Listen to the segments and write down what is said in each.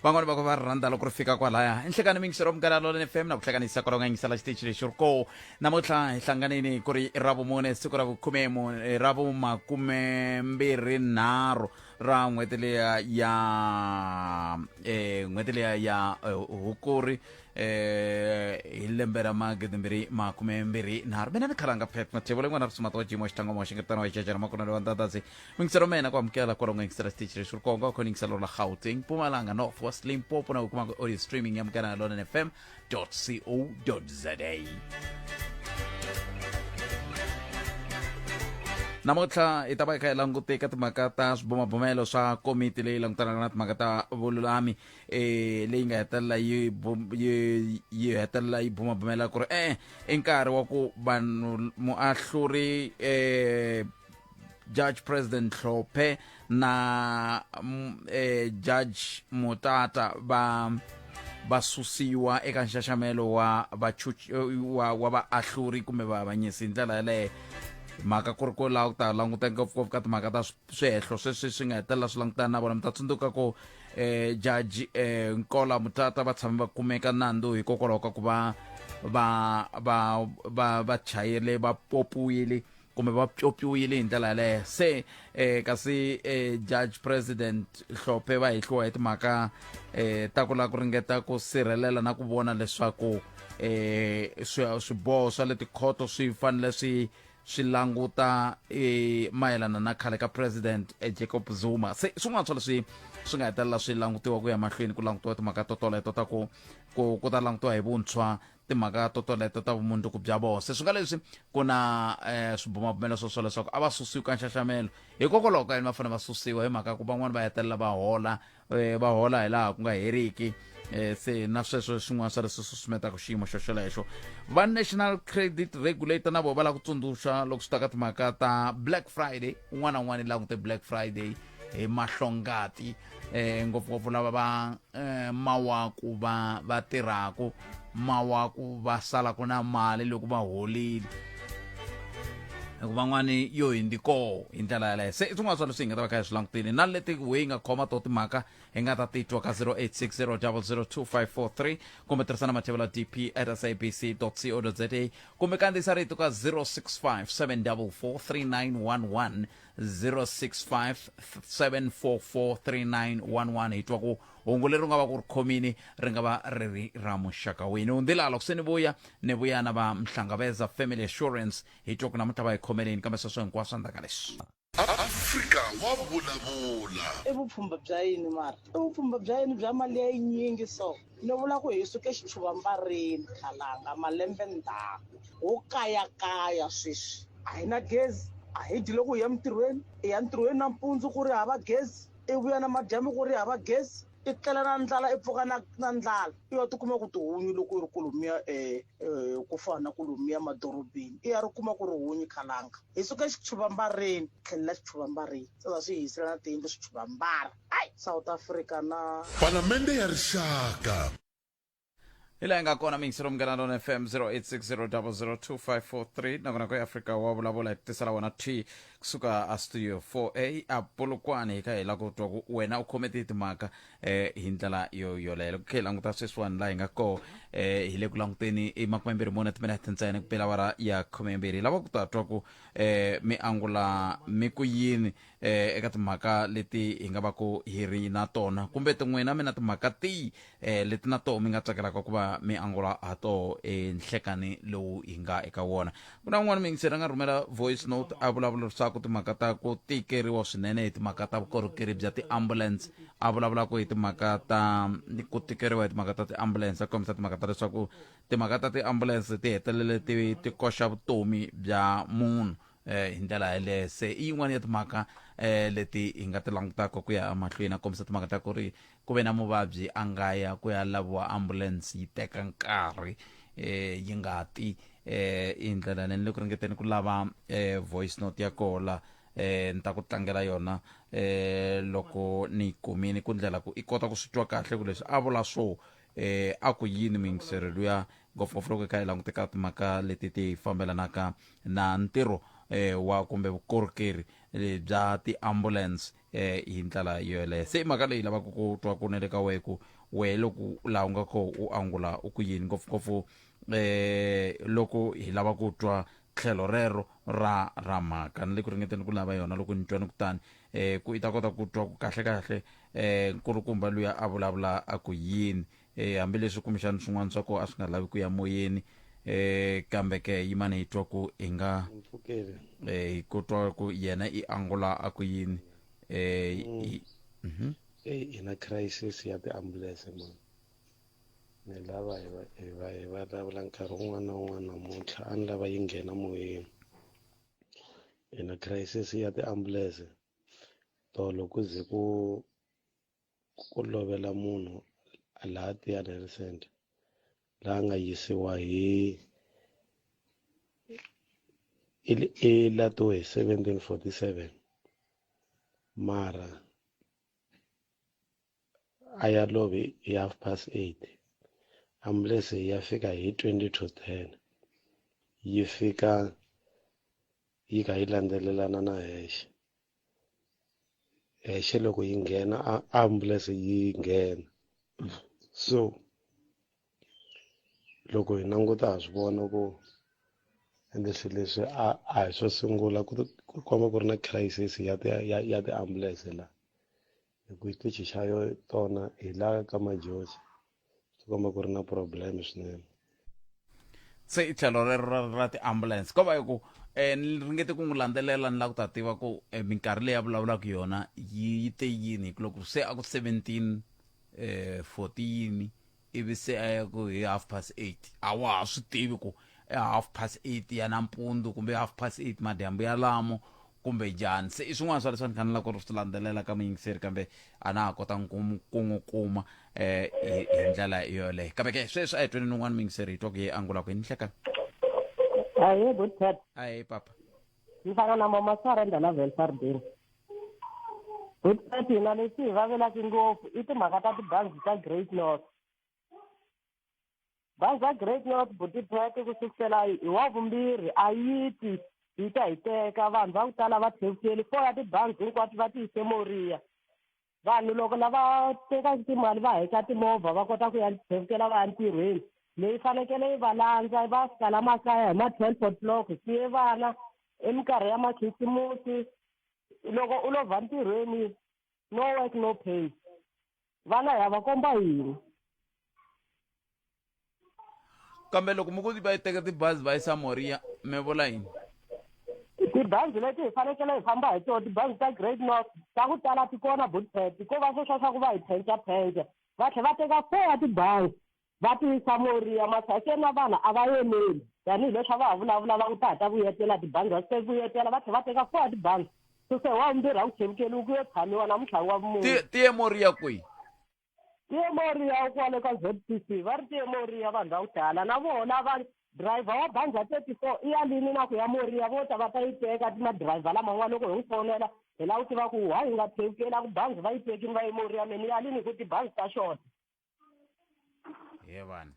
van'wani va ko va rhandza loko ri fika kwalaya enhlekani mingisero munghana lolene fm na ku hlanganisa kwalaho nga yingisela xitichi lexi ri ko namuntlha hi hlanganini ku ri ra vumune siku ra vukhume mu- eh, ra vumakume mbirhi nharhu ra n'hweti leya ya eh, n'hweti leya ya eh, hukuri eh, hi lembe ra magidi mbirhi makume mbirhi nharhu mina ni khalanga pet mathevole n'wana ri sumata wa jimo xitlangwa moxingetano wa jajana makunelo wa ndadasi Mingisa lomena kwamukela kwalo ngingisa stage le shurkongo ko ningisa lola Gauteng Mpumalanga North West Limpopo na ukuma audio streaming ya mkana lona fm.co.za namuntlha hi ta va hi kha hi langute ka timhaka ta swibumabumelo swa komiti leyi langutanaka na timhaka ta vululami eh leyi nga hetelela yi bum- yi yi hetelela yi bumabumela ku ri e i nkarhi wa ku vanhu muahluri eh judge president hlophe na mm, eh, judge mutata va va susiwa eka nxaxamelo wa vachuch- eh, wa, wa vaahluri kumbe vaavanyisi hi ndlela yaleyo mhaka ku ri ko laha ku ta languta ngopfungopfu ka timhaka ta swi- swihehlo sweswi swi nga hetelela swi langutana na vona mi ta tsundzuka ku eh, jaji eh, nkola mutata va tshame va kumeka nandzu hikokwalaho ka ku va va va va va chayele va popiwile kumbe va pyopiwile hi ndlela yaleyo se eh, kasi eh, judge president hlophe va hehliwa hi timhaka eh, ta ku lava ku ringeta ku sirhelela na ku vona leswaku eh, swi- swiboho swa le tikhoto swi fanele swi swi languta eh, mayelana na khale ka president eh, jacob zuma se swin'wana swa leswi swi nga hetelela swi langutiwa ku ya mahlweni ku langutiwa timhaka to toleto ta ku ku ku ta langutiwa hi vuntshwa timhaka to toleto ta vumundzuku bya vona se swi nga leswi ku na um swibumabumelo swo swo leswaku a va susiwi ka nxaxamelo hikokwalaho ka yini va fanele va susiwa hi mhaka ku van'wani va hetelela va hola um va hola hi laha ku nga heriki um se na sweswo swin'wana swa leswi susumetaka xiyimo xo xolexo va national credit regulator na vona va lava ku tsundzuxa loko swi ta ka timhaka ta black friday un'wana na un'wana i langute black friday hi mahlongati eh ngopfungopfu lava va eh, mawaku va va tirhaku mawaku va sala ku na mali loko va holile hikuva van'wani yo hindi koho hi ndlela yaleyo se i swin'wana swa leswi hi nga ta va kha hi swi langutile na leti we yi nga khoma to timhaka hi nga ta titwa ka 0860002543 kumbe tirhisana mathevela dp at sabc co za kumbe kandziyisa rito ka 065 744 3911 0657443911 hi twa ku hungu leri u nga va ku ri khomini ri nga va ri ri ra muxaka wini u ndila loko se ni vuya ni vuya na va mhlangaveza family assurance hi twa ku namuntlha va hi khomeleni kambe sweswo hinkwaswo endzhaku ka leswi afrika wa vulavula i vupfhumba bya yini mara i vupfhumba bya yini bya mali ya yinyingi so Ni vula ku hi suke xitshuvambareni Khalanga malembe ndzhaku ho kayakaya sweswi a hi na gezi a hi dyi loko hi ya mintirhweni i ya ntirhweni nampundzu ku ri hava gezi i vuya na madyambu ku ri hava gezi i tlela na ndlala i pfuka na na ndlala i ya tikuma ku tihunyi loko i ri ku lomuya um ku fana na ku lomuya madorobeni i ya ri kuma ku ri hunyi Khalanga hi suke xitshuvambareni tlhelela xitshuvambareni sasa swi hi hisela na tiyindlu switshuvambara ai south africa na palamende ya rixaka hi laha yi nga kona mixi romukela lona fm 0860002543 nakona ku africa wa vulavula hi ku tisela wena t kusuka a studio 4a a polokwane hi kha hi la ku twa ku wena u khome tihi timhaka eh, hi ndlela yo yoleyo ku khe hi languta sweswiwani laha hi nga koho eh, hi le ku languteni i makumembirhi mune timinete ntsena ku pela wara ya khumembirhi hi lava ku ta twa ku eh, mi angula mi ku yini eh, eka timhaka leti hi nga va ku hi ri na tona kumbe tin'wina mi na timhaka tihi eh, leti na toho mi nga tsakelaka ku va mi angula ha toho enhlekani lowu hi nga eka wona ku na un'wana miyingiseri a nga rhumela voice note a vulavula leswaku timhaka ta ku tikeriwa swinene hi timhaka ta vukorhokeri bya tiambulance a vulavulaka hi timhaka ta ku tikeriwa hi timhaka ta tiambulance a kombisa timhaka ta leswaku timhaka ta tiambulance ti hetelele ti ti koxa vutomi bya munhu eh hi ndlela yaleyo se i yin'wana ya timhaka eh leti hi nga ti langutaka ku ya mahlweni a kombisa timhaka ta ku ri ku ve na muvabyi a nga ya ku ya laviwa ambulance yi teka nkarhi eh yi nga ti eh i ndlela leyi ni le ku ringeteni ku lava eh voice note ya kola eh ni ta ku tlangela yona eh loko ni yi kumile ku ndlela ku i kota ku swi twa kahle ku leswi a vula swo eh, a ku yini miyingiselo luya ngopfungopfu loko hi kha hi languteka timhaka leti ti fambelanaka na ntirho eh, wa kumbe vukorhokeri eh, bya ti-ambulance eh, hi ndlela yoyeleyo se i mhaka leyi lavaka ku twa ku ne le ka wehe ku wehe loko laha u nga kho u angula u ku yini ngopfungopfu eh loko hi lava ku twa tlhelo rero ra ra mhaka ni le ku ringeteni ku lava yona loko ni twa ni kutani um ku i ta kota ku twa ku kahlekahle um nkulukumba luya a vulavula a ku yini um hambileswi kumbexani swin'wana swa kona a swi nga lavi ku ya moyeni um kambe ke yimani hi twa ku hi nga um hi ku twa ku yena i angula a ku yini um ina crisis ya tiambulense mani ni lava hi va hi va hi vulavula nkarhi wun'wana na wun'wana namuntlha a ni lava yi nghena moyeni ina crisis ya tiambulense tolo ku ze ku ku lovela munhu laha tiyani health center laha nga yisiwa hi i lato hi 1747 mara a ya lovi hi half past eight ambulense ya fika hi twenty to ten yi fika yi kha yi landzelelana na hexe hexe loko yi nghena ambulense yi nghena so loko hi languta ha swi vona ku ende swilo leswi a a hi swo sungula ku komba ku ri na crisis ya ti ya ya tiambulense la hi ku xitichi xa yo tona hi la ka majosi swi komba ku ri na problem swinene se i tlhelo rero ra ra ti-ambulance ko va hi ku um ni ringete ku n'wi landzelela ni la ku ta tiva ku um minkarhi leyi a vulavulaka yona yi yi te yini hi ku loko se a ku seventeen um fourteen ivi se a ya ku hi half past eight a wa ha swi tivi ku i half past eight ya nampundzu kumbe i half past eight madyambu yalamo kumbe njhani se i swin'wana swa leswi a ni fanelaka ku swi landzelela ka muyingiseri kambe a na ha kotanga ku n'wi kuma um eh, hi ndlela yoleyo kambe ke sweswi a hi tweni ni un'wana muyingiseri hi twa ku ye angula ku hi ni hlekana ahe good tat ahe papa ni fana na mama sarenda la velfardeni hi tati hina leswi hi vavelaki ngopfu i timhaka ta tibazi ta great north bazi ra great north butipet ku sukusela hi wa vumbirhi a yi ti yi ta hi teka vanhu va ku tala va tlhevukeli four ya tibazi hinkwato va ti yise moriya vanhu loko lava tekaka timali va heta timovha va kota ku ya tlhevukela va ya ntirhweni leyi fanekele yi va landza va fika la makaya hi ma-twelve o'clock siye vana eminkarhi ya makhisimusi loko u lovha ntirhweni no work no pay vana ha va komba yini kambe loko mi ku va yi teka tibazi va yisa moriya mi vula yini tibazi leti hi fanekele hi famba hi tona tibazi ta great north ta ku tala ti kona budpet ko va sweswa swa ku va hi phenca phenca va tlhe va teka four ya tibazi va ti yisa moriya masakeni na vanhu a va yeleli tanihileswi a va ha vulavula va ku ta ha ta vuyetela tibangi va se vuyetela va tlhe va teka four ya tibangi suse wa vumbirhi a ku chevukeliwi ku yo tshamiwa namuntlha wa vumunhu tiye moriya kwihi tiyemoriya kwale ka zcc va ri tiyemoriya vanhu va ku tala na vona va driver wa bandza thirty four i yalini na ku ya moriya vo ta va ta yi teka madriver laman'wana loko hi n'wi fonela hi lava ku tiva ku wa hi nga thekela ku banzi va yi tekini va yi moriya me ni yalini hi ku tibanzi ta xota yevana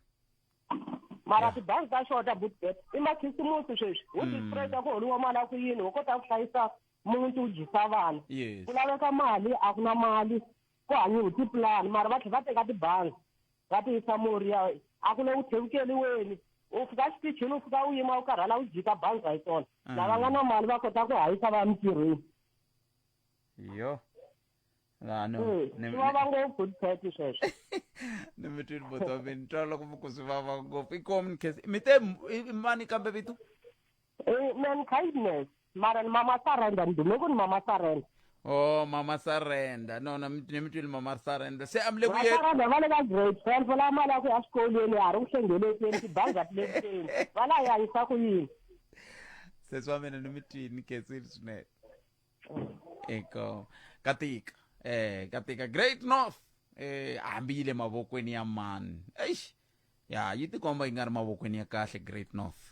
mara tibangi ta xota butbet i makhisimusi sweswi wu hmm. distreta ku holiwa mali a ku yini wu kota ku hlayisa muti wu dyisa vana ku laveka mali a ku na mali ku hanyiwi tipulani mara va tlhela va teka tibangi va ti yisa mori ya a ku le ku tlhevukeliweni u fika xitichini u fika u yima u karhala u jika bangi ra yi tona mm. lava nga na mali va kota ku hayisa va ya mintirhweni yo vava ngopfu tipheti sweswo ni mi twini botso wa mina twa loko mi ku swi vava ngopfu i common case mi te mani kambe vito Eh, man kindness mara ni mama surrender ni dume ku ni mama surrender o mama sarenda no na mi ni mi twile mama sarenda se a mi le ku va ye surrender va le ka grade twelve va lava mali ya ku ya xikolweni ya ha ri ku hlengelekeni tibanga ti le kuteni va la ya yisa ku yini sesi wa mina ni mi twini ketsini swinene eko ka tika eh ka tika great north eh hambi yi le mavokweni ya mani eish ya yi tikomba yi nga ri mavokweni ya kahle great north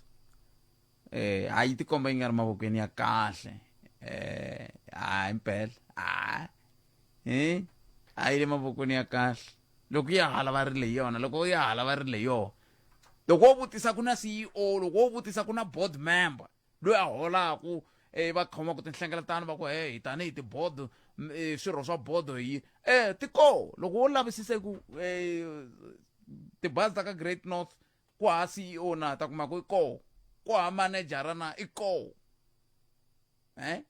eh ha yi tikomba yi nga ri mavokweni ya kahle eh ha impela ha eh ha yi le mavokweni ya kahle loko ya hala va ri le yona loko ya hala va ri le yona loko wo vutisa ku na CEO loko wo vutisa ku na board member loyi a holaku um e, va khomaka tinhlengeletano va ku he hi tanihi tibodo e, swirho swa bodo hi um ti koo loko wo lavisisa ku um tibazi ta ka great north ku ha c e o na ta kuma ku i koo ku ha manejara na i koo um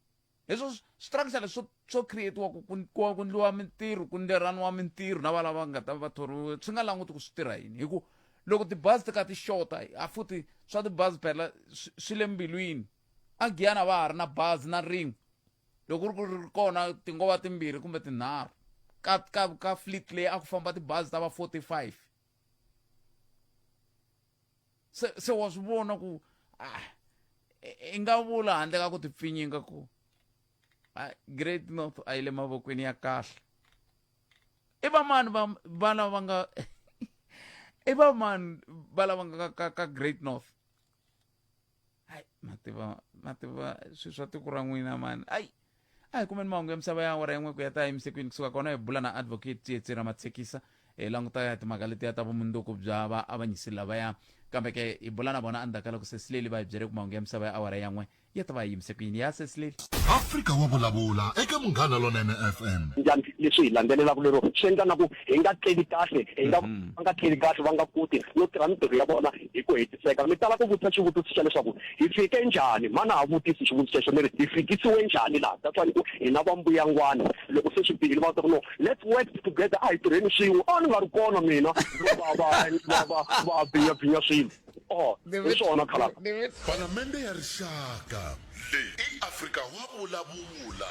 Hezwo swi trakisa leswo swo creatiwa ku ku ku ndliwa mintirho ku nderaniwa mintirho na valava nga ta va thoriwe swi nga languti ku swi tirha yini hi ku loko tibazi ti ka ti xota a futhi swa tibazi phela swi le mbilwini a giyani a va ha ri na bazi na rin'we loko ku ri ku ri kona ti ngo va timbirhi kumbe tinharhu ka ka ka fleet leyi a ku famba tibazi ta va forty five se se wa swi vona ku ah i- i nga vula handle ka ku ti pfinyinga ku ah, great north a yi le mavokweni ya kahle i vamani va va lava nga i vamani va lava nga ka, ka, ka great north hayi ma tiva ma tiva swi swa tiko ra n'wina mani ayi a hi kumeni mahungu ya misava ya awara yin'we ku ya ta emisekweni kusuka kona hi bula na advocate tsietse ra matshekisa hi languta ya timhaka letiya ta vumundzuku bya vaavanyisi lavaya kambe ke hi bula na vona endzhaku ka loko sesileli va hi byele ku mahungu ya misava ya awara yan'we ya ta va yi yimise ku yini ya sesileli afrika wa vulavula eka munghana lonene fm njhani leswi hi landzelelaka lero swi endla na ku hi nga tleli kahle hi nga mhm. va nga tleli kahle va nga koti no tirha mitirho ya vona hi ku hetiseka mi tala ku vutisa xivutiso xa leswaku hi fike njhani mhana ha vutisi xivutiso xexo mi ri hi fikisiwe njhani laha that's why ni ku hina va mbuyangwana loko se swi bihile va ta ku no let's work together a hi tirheni swin'we a ni nga ri kona mina va va va va va binya binya swilo oh hi swona khalaka palamende ya rixaka leyi i afrika wa vulavula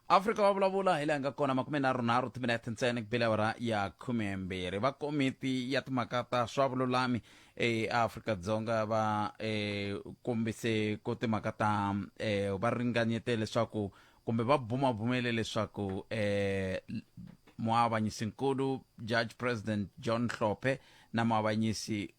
afrika va vulavula hi laha nga kona makume nharhu nharhu timinete ntsena ku bile ra ya khumembirhi va komiti ya timhaka ta swa vululami eafrika-dzonga va um kombise ku timhaka ta um va ringanyete leswaku kumbe va bumabumele leswaku um muavanyisinkulu judge president john hlophe na muavanyisi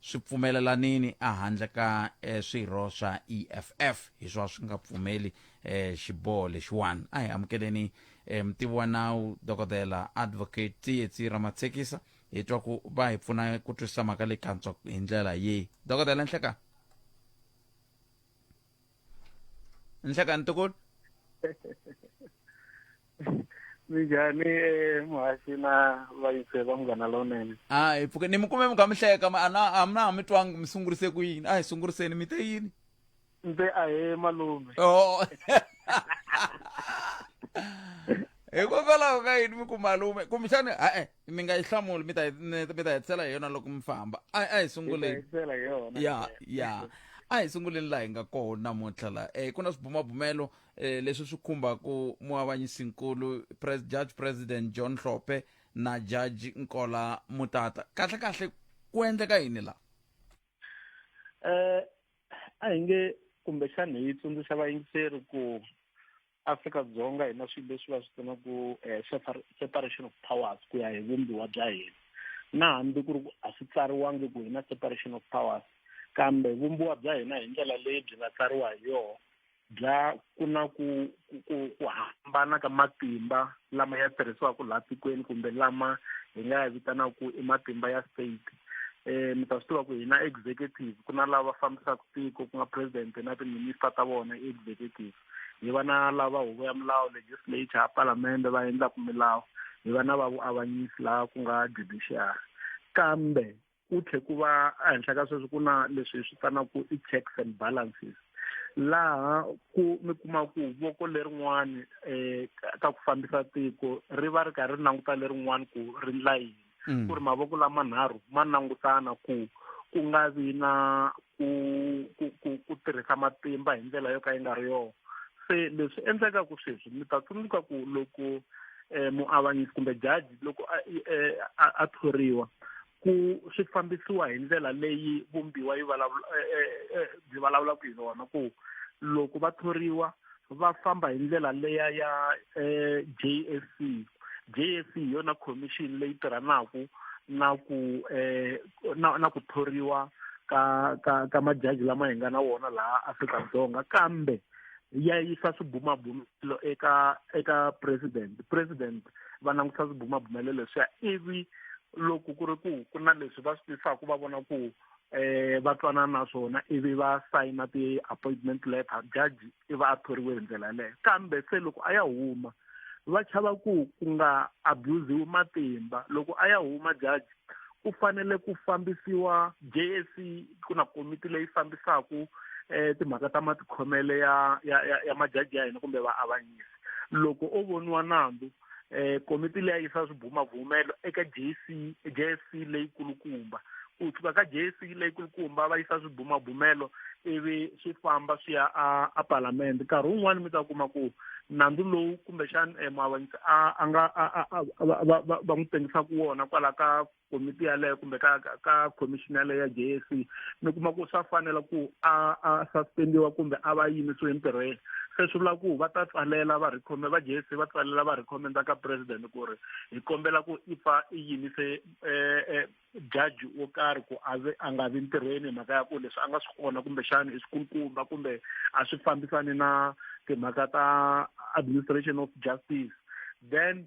swi pfumelelanini ehandle ka e, swirho swa eff hi swa swi nga pfumeli e, xiboho lexiwani a hi amukeleni e, mutivi wa nawu dokodela advocate tsietsi ra matsekisa hi twa ku va hi pfuna ku twisisa mhaka leyi kantswa hi ndlela yihi dokodela nhlekani nhlekani ntukulu minjhani eh, muhaxi na vayise va munghana lowunene a hi pfuke ni mi kume mi kha mi hleka ma- a na- a mi na ha mi twangi mi sungurise ku yini a hi sunguriseni mi te yini mbe a he malume o hikokwalaho ka yini mi ku malume kumbexani ha-e mi nga yi hlamuli mi ta hi- ni- mi ta hetisela hi yona loko mi famba a a hi sunguleni Hlayisela hi yona ya ya a hi sunguleni laha hi nga kona namuntlha la um ku na swibumabumelo um leswi swi khumbaku muavanyisinkulu pres, judge president john hlophe na judge nkola mutata kahle kahle ku endleka yini la eh a hi nge kumbexani hi tsundzuxa vayingiseri ku Afrika Dzonga hi na swilo leswi va swi pfunaku eh, separation of powers ku ya hi vumbiwa bya hina na hambi ku ri ku a swi tsariwangi ku hi na separation of powers kambe vumbiwa bya hina hi ndlela leyi byi nga tsariwa hi yona bya ku na ku ku ku hambana ka matimba lama ya tirhisiwaka laha tikweni kumbe lama hi nga ya vitanaka ku i matimba ya state eh mi ta swi tiva ku hina executive ku na lava fambisaka tiko ku nga president na timinister ta vona executive hi va na lava huvo ya milawu legislature ya palamende va endlaka milawu hi va na va vuavanyisi laha ku nga judiciary kambe ku tlhe ku va ehenhla ka sweswi ku na leswi hi swi vitanaku i checks and balances laha ku mi kuma ku voko lerin'wani um ka ku fambisa tiko ri va ri karhi ri languta lerin'wani ku ri ndla yini mm. ku ri mavoko lamanharhu ma langutana ku ku nga vi na ku ku ku ku tirhisa matimba hi ndlela yo ka yi nga ri yona se leswi endleka ku sweswi mi ta tsundzuka ku loko um muavanyisi kumbe jaji loko a eh, a thoriwa ku swi fambisiwa hi ndlela leyi vumbiwa yi vulavula eh, byi vulavulaka hi yona ku loko va thoriwa va famba hi ndlela leya ya eh, JSC JSC hi yona commission leyi tirhanaka na ku eh, na, na ku thoriwa ka ka ka majaji lama hi nga na wona laha Afrika-Dzonga kambe ya yisa swibumabumelo eka eka president president va langusa swibumabumelelo leswiya ivi loko ku ri ku ku na leswi va swi tisaka va vona ku eh va twanana na swona ivi va sayina ti-appointment letter jaji i va a thoriwe hi ndlela yaleyo kambe se loko a ya huma va chava ku ku nga abusiwi matimba loko a ya huma jaji ku fanele ku fambisiwa JSC ku na komiti leyi fambisaka eh timhaka ta matikhomele ya ya ya, ya majaji ya hina kumbe vaavanyisi loko o voniwa nandzu eh komiti leyi yisa swibumabumelo eka JC JSC leyi kulukumba ku tshuka ka JSC leyi kulukumba va yisa swibumabumelo ivi swi famba swi ya a a parliament nkarhi wun'wani mi ta kuma ku nandzu lowu kumbexani eh, muavanyisi a a nga va n'wi tengisa ku wona kwala ka komiti yaleyo kumbe ka ka commission yaleyo ya j s c mi kuma ku swa fanela ku a a suspendiwa kumbe a va yimisiwe entirhweni se swi vula ku va ta tsalela va recommend va j s c va tsalela va recommenda ka president ku ri hi kombela ku i pfa i yimise um jaji wo karhi ku a a nga vi ntirhweni hi mhaka ya ku leswi a nga swi kona kumbexana i swikulukumba kumbe a swi fambisani na timhaka ta administration of justice then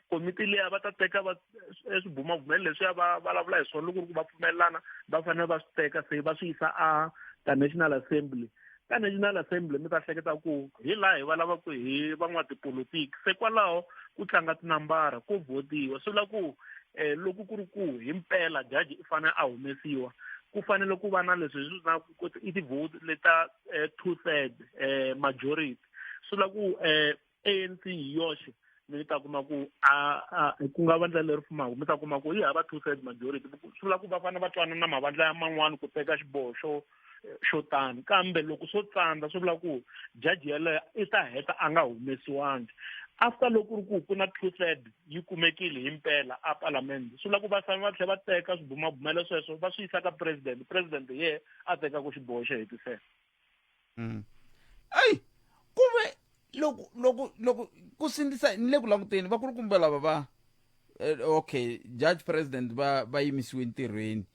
komiti leya va ta teka va e swibumabumelo leswiya va vulavula hi swona loko ri ku va pfumelelana va fanele va swi teka se va swi yisa a ka national assembly ka national assembly mi ta hleketa ku hi laha hi va lavaku hi van'watipolitiki se kwalaho ku tlanga tinambara ku votiwa swi vula ku um loko ku ri ku hi mpela jaji i fanele a humesiwa ku fanele ku va na leswi hi swi na i ti-vote leta um two third um majority swi vula ku um anc hi yoxe mi ta kuma ku ku nga vandla leri fumaku mi ta kuma ku yi hava two third majority swi vula ku va fane va twana na mavandla ya man'wani ku teka xiboho xo xo tani kambe loko swo tsandza swi vula ku jaji yeleyo i ta heta a nga humesiwangi after loko ri ku ku na two third yi kumekile hi mpela a palamende swi vula ku va fane va tlhe va teka swibumabumelo sweswo va swi yisa ka president president ye a tekaka xiboho xo hetisela ayi ku ve loko loko loko ku sindzisa ni le ku languteni vakulukumba lava va eh, okay judge president va va yimisiwe ntirhweni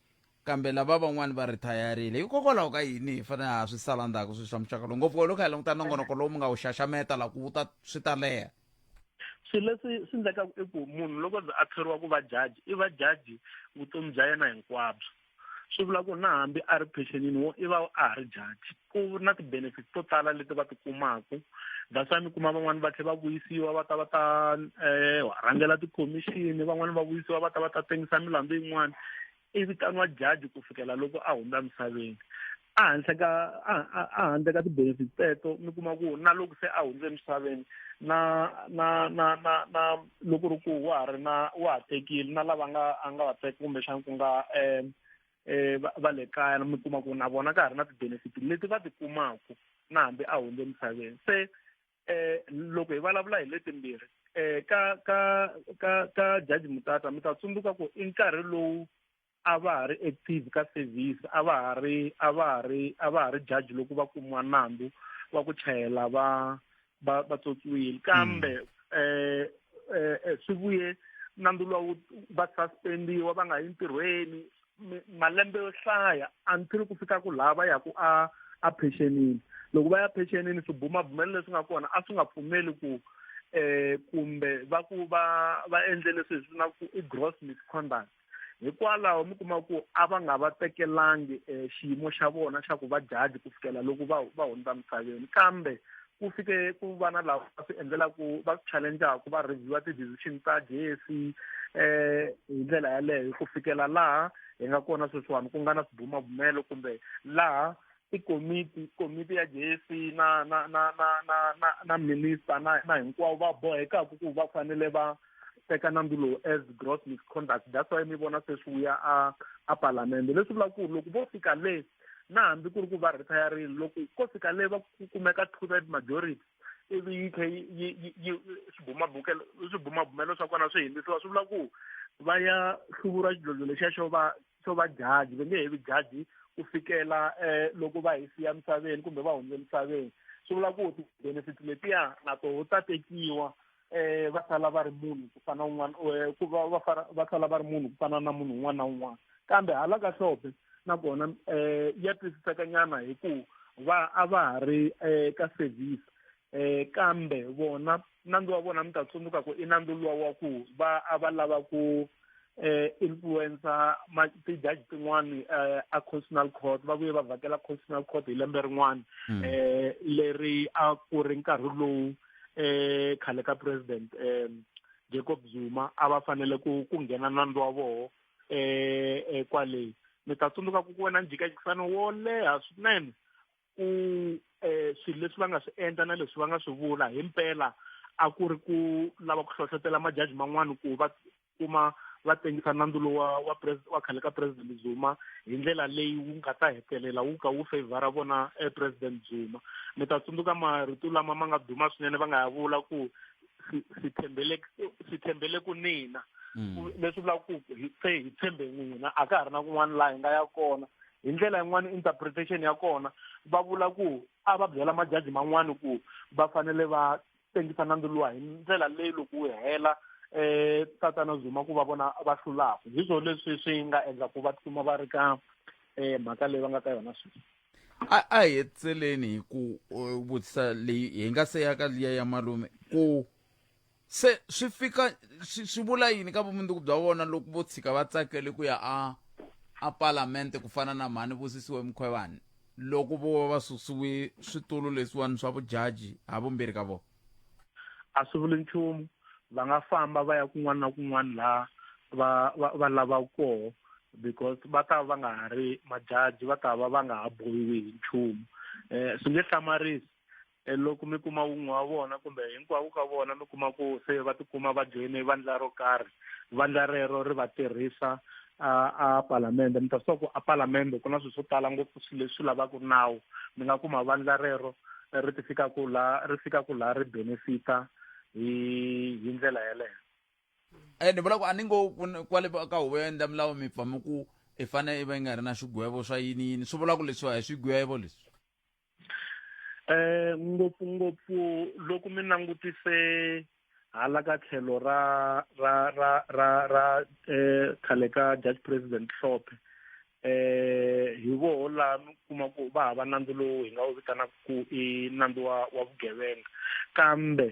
kambe lava van'wani va rethayarile hikokwalaho ka yini hi fanele ha swi sala ndzhaku swilo swa muxaka lowu ngopfu loko hi languta nongonoko lowu mi nga wu xaxameta la ku wu ta swi ta leha swilo leswi swi endlekaka i ku munhu loko ze a thoriwa ku va jaji i va jaji vutomi bya yena hinkwabyo swi vula ku na hambi a ri pensionini wo i va a ha ri jaji ku na ti-benefits to tala leti va ti kumaku that's why mi kuma van'wani va tlhela va vuyisiwa va ta va ta um rhangela ti-commission van'wani va vuyisiwa va ta va ta tengisa milandzu yin'wani i vitaniwa jaji ku fikela loko a hundza misaveni ehanhla ka ehandle ka ti-benefit teto mi kuma ku na loko se a hundze emisaveni na na na na na loko ri ku wa ha ri na wa ha tekile na lava nga a nga va teka kumbexana ku nga um um va le kaya mi kuma ku na vona ka ha ri na ti-benefit leti va ti kumaku na hambi a hundze emisaveni se um loko hi vulavula hi letimbirhi um ka ka ka ka jaji mutata mi ta tsundzuka ku i nkarhi lowu a va ha ri active ka service a va ha ri a va ha ri a va ha ri judge loko va kumiwa nandzu wa ku chayela va va va tswotswiwile kambe eh eh, eh swi vuye nandzu lowu va suspendiwa va nga yi ntirhweni mi- malembe yo hlaya until ku fika ku laha va yaku a a pensionini loko va ya pensionini swibumabumelo leswi nga kona a swi nga pfumeli ku eh kumbe va ku va va endle leswi hi swi vinaku i gross misconduct hikwalaho mi kuma ku a va nga va tekelangi um xiyimo xa vona xa ku va jaji ku fikela loko va va hundza misaveni kambe ku fike ku va na lava va swi endlelaku va swi challengeaku va reviewa ti-decision ta jc um eh, hi ndlela yaleyo ku fikela laha hi nga kona sweswiwani ku nga na swibumabumelo kumbe laha i komiti komiti ya JSC na na na na na na, na minister na na hinkwavo va bohekaka ku va fanele va teka nandzu lowu as gross misconduct that's why mi vona se swi vuya a a palamende leswi vulaka ku ri loko vo fika le na hambi ku ri ku va retiring loko ko fika le va ku kumeka two third majority ivi yi tlhe yi- yi- yi- yi- swibumabukelo swibumabumelo swa kona swi hindzisiwa swi vula ku va ya hluvura xidlodlo lexiya xo va swo va jaji va nge he vi jaji ku fikela um loko va hi siya misaveni kumbe va hundze misaveni swi vula ku ti-benefit letiya na toho ta tekiwa um va sala va ri munhu ku fana un'wana ku va va fana va sala va ri munhu ku fana na munhu un'wana na un'wana kambe hala ka hlombe nakona um ya twisiseka nyana hi ku va a va ha ri um ka service eh kambe vona nandzu wa vona mi ta tsundzuka ku i nandzu luwa wa ku va a va lava ku eh influencer ma ti-judge tin'wani eh a constitutional court va vuye va vhakela constitutional court hi lembe rin'wana Mm. eh leri a ku ri nkarhi lowu eh khale ka president eh Jacob Zuma a va fanele ku ku nghena nandzu wa voho eh eh, kwale mi ta tsundzuka ku ku wena njhikajikisano wo leha swinene ku um swilo leswi va nga swi endla na leswi va nga swi vula hi mpela a ku ri ku lava ku hlohlotela majaji man'wana ku va kuma va tengisa nandzu lowa wa wa khale ka president zuma hi ndlela leyi wu nga ta hetelela wu ka wu favora vona e president zuma mi ta tsundzuka marito lama ma nga duma swinene va nga ya vula ku si thembele si thembele ku nina mm. leswi vulaka ku se hi tshembe n'wina a ka ha ri na kun'wana laha hi nga ya kona hi ndlela yin'wana interpretation ya kona va vula ku a va byela majaji man'wana ku va fanele va tengisa nandzu luwa hi ndlela leyi loko wu hela eh tatana Zuma ku va vona va hlulaka hi swona leswi swi nga endla ku va tikuma va ri ka eh mhaka leyi va nga ka yona sweswi a a hi hetseleni hi ku uh, vutisa leyi hi nga se ya ka liya ya malume ku se swi fika swi swi vula yini ka vumundzuku bya vona loko vo tshika va tsakele ku ya a a palamente ku fana na mhani vusisiwe mukhwevani loko vo va va susiwe switulu leswiwani swa vujaji ha vumbirhi ka vona a swi vuli nchumu va nga famba va ya kun'wana na kun'wana laha va va va lavaka koho because va ta va nga ha ri majaji va ta va va nga ha bohiwi hi nchumu um swi nge hlamarisi E loko mi kuma wun'we wa vona kumbe hinkwavo ka vona mi kuma ku se va tikuma va joyine vandla ro karhi vandla rero ri va tirhisa a a palamende mi ta swi tiva ku a palamende ku na swilo swo tala ngopfu swilo leswi lavaka nawu mi nga kuma vandla rero ri ti fika ku la ri fika ku la ri benefita hi hi ndlela yeleyo Eh, ni vula ku a ni ngo ku ni- kwale ba- ka huvo ya endla milawu mi pfame ku i fane i va yi nga ri na xigwevo swa yini yini swi vula ku leswiwa hi swigwevo leswi Eh ngopfungopfu loko mi langutise hala ka tlhelo ra ra ra ra ra eh khale ka Dutch president Hlophe eh hi voho la mi kuma ku va hava nandzu lowu hi nga wu vitanaka ku i nandzu wa wa vugevenga kambe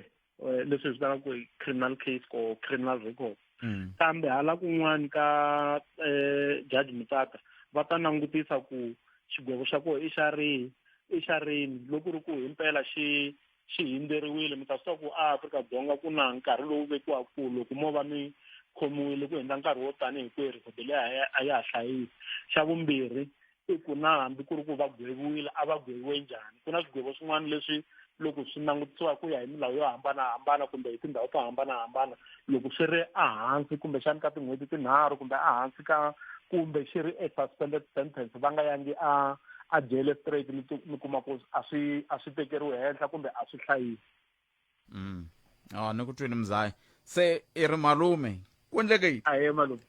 eh, leswi vitanaka ku criminal case or criminal record mm. kambe hala kun'wani ka eh, judge mutsaka va ta langutisa ku xigwevo xa koho i xa rihi i xa rini loko ri ku himpela xi xi hindzeriwile mi ta swi tiva ku a afrika dzonga ku na nkarhi lowu vekiwaka ku loko mo va mi khomiwile ku hundza nkarhi wo tanihi kwerhu rhobele a ya ha hlayisi xa vumbirhi i ku na hambi ku ri ku va gweviwile a va gweviwe njhani ku na swigwevo swin'wana leswi loko swi langutisiwa ku ya hi milawu yo hambanahambana kumbe hi tindhawu to hambanahambana loko swi ri ehansi kumbexani ka tin'hweti tinharhu kumbe ehansi ka kumbe xi ri e-suspended sentence va nga yangi a a jele straight mi mi kuma ku a swi a swi tekeriwi henhla kumbe a swi hlayisi mm. oh, ni ku twini mzaya se i ri malume ku endleke yini a ye malume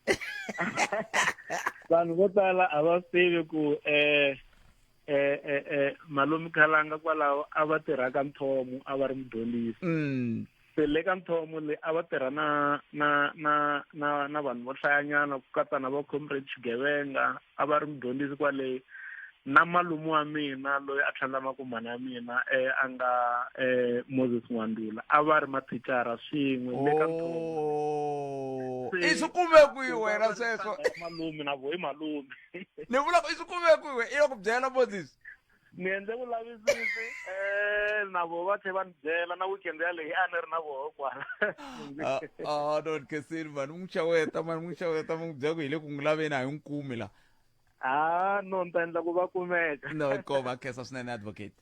vanhu vo tala a va swi tivi ku um eh, eh, eh, eh, malume khalanga kwalaho a va tirha ka nthomo a va ri mudyondzisi mm. se le ka nthomo le a va tirha na na na na na vanhu vo hlayanyana ku katsa na va comrade xigevenga a va ri mudyondzisi kwale na malume wa mina loyi a tlhandla makumbana ya mina eh, a nga eh, moses n'wandula a va ri mathicara swin'we le ka Oh, i swi kume kwihi wena sweswo malume na vo i malume ni vula ku i swi kume kwihi i lo ku byela moses ni endle vulavisisi um na vo va tlhe va ni byela na weekend yaleyi a ni ri na voho kwala Ah, ah, don kesini mani n'wi xaweta mani n'wi xaweta mi n'wi byela ku hi le ku n'wi laveni a hi n'wi kumi la a no ni ta endla ku va kumeka no inkomu akhensa swinene advocate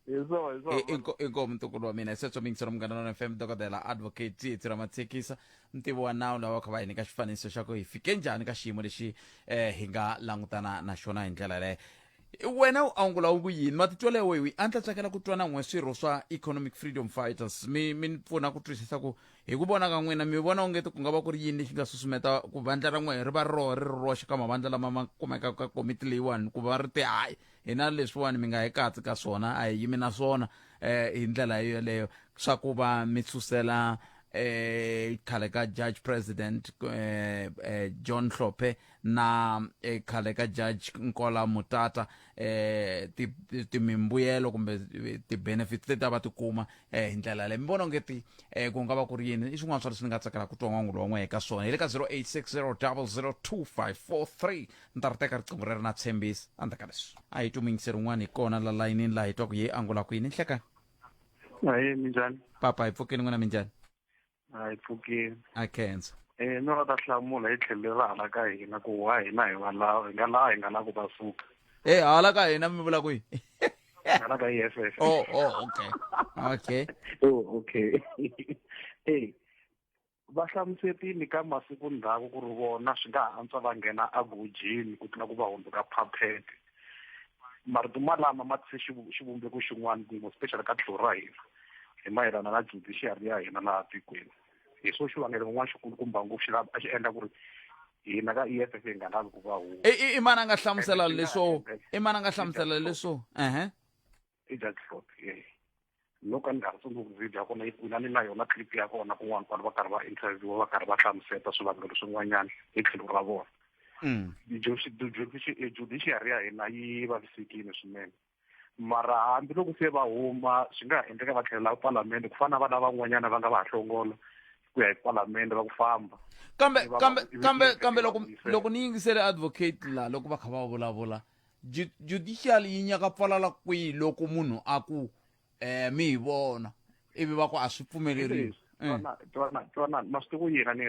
hi swo hi swo I- inko- inkomu ntukulu wa mina hi sweswo mingiselo munghana lona fm dokodela advocate tsietsi ra matshekisa ntivo wa nawu lava va kha va hi nyika xifaniso xa ku hi fike njhani ka xiyimo lexi um hi nga langutana na xona hi ndlela yaleyo wena u angula u ku yini matitwelo ya wewe a ni ta tsakela ku twana n'we swirho swa economic freedom fighters mi mi ni pfuna ku twisisa ku hi ku vona ka n'wina mi vona ongeti ku nga va ku ri yini lexi nga susumeta ku vandla ra n'we ri va roho ri ri roxe ka mavandla lama ma kumekaka ka komiti leyiwani ku va ri ti hayi hina leswiwani mi nga hi katsi ka swona a hi yimi na swona um hi ndlela yeleyo swa ku va mi susela eh khale ka judge president eh, eh, john hlophe na eh, khale ka judge nkola mutata eh, ti- ti- timimbuyelo kumbe eh, ti-benefits leti a va ti kuma eh, hi ndlela yaleyo mi vona onge ti eh, ku nga va ku ri yini i swin'wana swa leswi ni nga tsakela ku twa n'wangu lowun'we eka swona hi le ka 0860002543 ni ta ri teka riqingho rero na tshembisi andza ka leswi a hi tumingise rin'wana hi kona la layinini laha hi twaku ye angula kwini nhleka ahee minjhani papa hi pfukeni n'wina minjhani a yi pfukeli a khensa eh no ta hlamula hi tlhelo ra hala ka hina ku wa hina hi va laha hi nga laha hi nga laha ku va suka e hala ka hina mi vula kwihi hala ka yes yes oh oh okay okay oh okay eh va hlamusetile ka masiku ndzhaku ku ri vona swi nga ha antswa va nghena agojini ku tlula ku va hundzuka phaphete marito malama ma tise xivumbeko xin'wana kun'we special ka tlhelo ra hina hi mayelana na judiciary ya hina laha tikweni hi swo xivangelo kun'wana xikulukumba ngopfu xi a xi endla ku ri hina ka EFF hi nga lavi ku va huwa i mani a nga hlamusela leswo i mani a nga hlamusela leswo ehe i dya drop ye loko a ni nga ri tsundzuki video ya kona yi kwini a ni na yona clip ya kona kun'wana kwani va karhi va interviewa va karhi va hlamuseta swivangelo swin'wanyana hi tlhelo ra vona Mm. judiciary ya hina yi vavisekile swinene mara hambiloko se va huma swi nga ha endleka va tlhelela palamende ku fana na vana van'wanyana va nga va ha hlongola ku ya hi palamende va ku famba kambe kambe kambe kambe loko loko ni yingisele advocate la loko va kha va vulavula Ju- judicial yi nyaka pfalala kwihi loko munhu a ku eh mi hi vona ivi va ku a swi pfumeleriwi Eh, twana twana twana ma swi tivi yena ni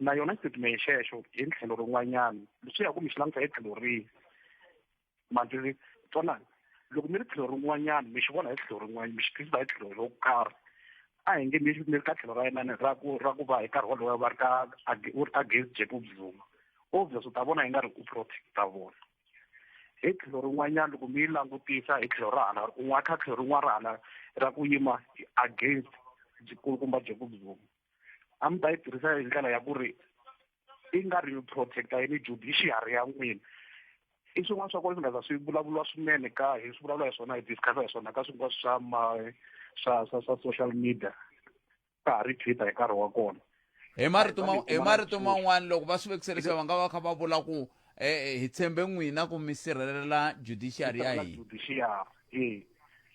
na yona statement xexo hi tlhelo rin'wanyana leswi ya ku mi xi languta hi tlhelo rihi mandziri twanani loko mi ri tlhelo rin'wanyana mi xi vona hi tlhelo rin'wanyana mi xi twisisa hi tlhelo ro karhi a hi nge ni ni ka tlhelo ra yena ni ra ku ra ku va hi nkarhi wolowo va ri ka ag- u ri against jacob zuma obvious u ta vona yi nga ri ku protect vona hi tlhelo rin'wanyana loko mi yi langutisa hi tlhelo ra hala un'wana kha tlhelo rin'wana ra hala ra ku yima against jikulukumba jacob zuma a mi ta yi tirhisa hi ndlela ya ku ri i nga ri protecta yini judiciary ya n'wina i swin'wana swa kona swi nga za swi vulavuriwa swinene ka hi swi vulavula hi swona hi discussa hi swona ka swin'wana swa ma swa swa swa social media ka ha ri twitter hi nkarhi wa kona hi marito ma hi marito man'wana loko va swi vekise leswi va nga va kha va vula ku eh, eh, hi tshembe n'wina ku mi sirhelela judiciary ya hina judiciary e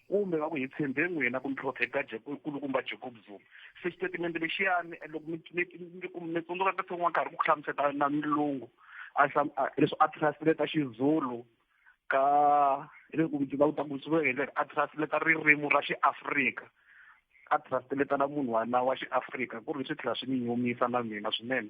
kumbe va ku hi tshembe n'wina ku mi phrofeta kulukumba jacob zuma se xitatimende lexiyani eh, loko mi tsundzuka ka tshon'wa karhi ku hlamuseta na milungu leswi a translate xizulu ka leswi ku ndzi va ku ta kusuka hi ndlela a translate ririmi ra xiafrika a translate na munhu wana wa xiafrika ku ri swi tlhela swi ni nyumisa na mina swinene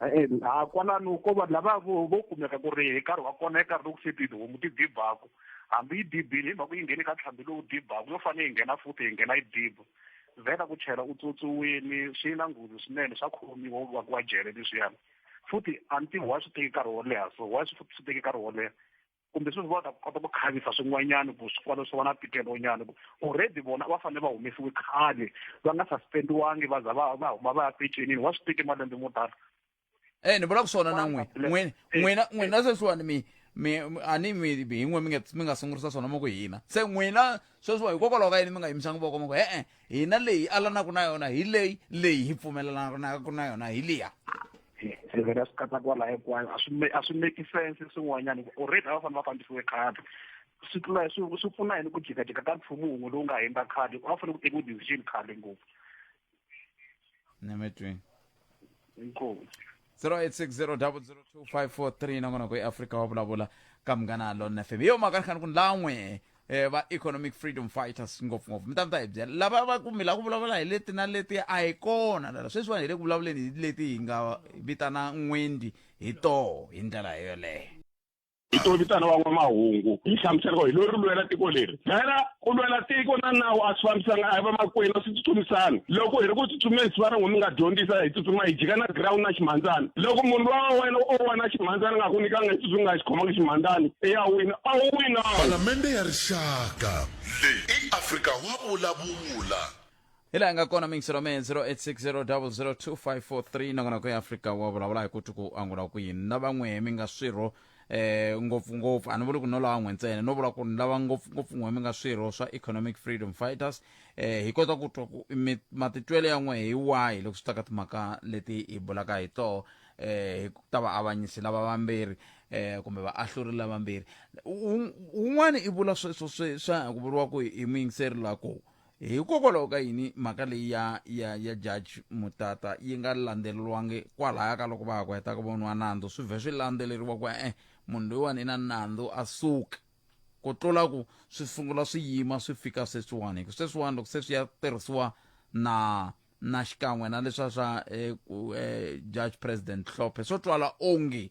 ha kwalano ko vanhu lava vo vo kumeka ku ri hi nkarhi wa kona hi nkarhi lowu se tihomu ti dibaku hambi yi dibile hi mhaka yi nghene ka tlhambi lowu dibaku yo fanele yi nghena futhi hi nghena yi diba vheta ku chela u tswotswiwini swi na nghozi swinene swa khomiwa u vakiwa jele leswiyani futhi a ni tivi wa swi teki nkarhi wo leha so wa swi futhi swi teki nkarhi wo leha kumbe sweswi va ta kota ku khavisa swin'wanyana ku swi kwalo swi va na tikelonyana ku already vona va fanele va humesiwe khale va nga suspendiwangi va za va va huma va ya pecenini wa swi teke malembe mo tala e ni vula ku swona na n'wina n'wina n'wina n'wina sweswiwani mi mi mi- a ni mi hi n'we mi nga mi nga sungurisa swona mo ku hina se n'wina sweswiwa hikokwalaho ka yini mi nga yimisanga voko mo ku e-e hina leyi alanaka na yona hi leyi leyi hi pfumelelanaku na yona hi liya se vhela swi kata kwala hinkwayo a swi a swi make sense swin'wanyana ku already a va fanele va fambisiwe khadi swi tlula swi swi pfuna yini ku jikajika ka nchumu wun'we lowu nga hindza khadi a va fanele ku tekiwa decision khale ngopfu ni mi twini inkomu 0860002543 nangona ku eafrika wa vulavula ka munghana lona fm hi yo mhaka ni khani ku ni lan'we eh, va economic freedom fighters ngopfungopfu mi ta mi ta hi byela lava va ku mi la ku vulavula hi leti na leti a hi kona lala sweswiwani hi le ku vulavuleni hi leti hi nga vitana n'wendi hi toho hi ndlela yoleyo hi to vitana van'wamahungu yi hlamusela ko hi lo ri lwela tiko leri phela ku lwela tiko na nawu a swi fambisanga a hi va makwenu a swi tsutsumisani loko hi ri ku tsutsumeni swi va ri n'wi mi nga dyondzisa hi tsutsuma hi jika na ground na ximhandzana loko munhu lowa wa wena o wa na xi mhandzani nga ku nyikanga xitsutsu nga xi khomanga ximhandzani i ya wina a wu wina Palamende ya Rixaka. Leyi i Afrika wa vulavula. hi laha nga kona mingiselo me 0860002543 nongonoko ya afrika wa vulavula hi ku twi ku angula ku yini na van'we mi nga swirho eh ngopfungopfu a ni vuli ku no lavan'we ntsena no vula ku ni lava ngopfungopfu n'we mi nga swirho swa economic freedom fighters eh hi kota ku twa ku mi- matitwelo ya n'we hi wahi loko swi ta ka timhaka leti hi bulaka hi toho eh hi ku ta va avanyisi lava vambirhi eh kumbe va ahluri lava vambirhi un'wana i vula sweswo swe swa ku vuriwa ku hi muyingiseri la ku hikokwalaho ka yini mhaka leyi ya ya ya judge mutata yi nga landzeleriwangi kwalaya ka loko va ha ku heta ku voniwa nandzu swi vhe swi landzeleriwa ku e munhu loyiwani i na nandzu a suka ku tlula ku swi sungula swi yima swi fika sweswiwani hi ku sweswiwani loko se swi ya tirhisiwa na na xikan'we na leswa swa eh, ku eh, judge president hlophe swo twala onge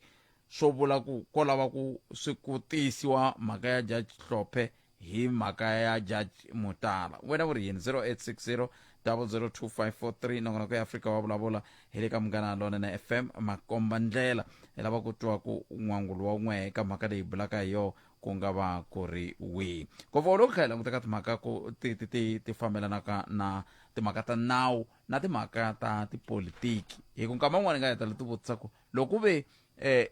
swo vula ku ko lava ku swi ku tiyisiwa mhaka ya judge hlophe hi mhaka ya judge mutala wena u ri yini 0860 002543 nakona ku ya afrika wa vulavula hi le ka munghana lonene fm makomba ndlela hi lava ku twa ku n'wangulo wa n'we eka mhaka leyi bulaka hi yoho ku nga va ku ri wihi ngopfu loko kha hi languta ka timhaka ku ti ti ti ti fambelanaka na timhaka ta nawu na timhaka ta tipolitiki hi ku nkama un'wana hi nga heta leti vutisa ku loko ve eh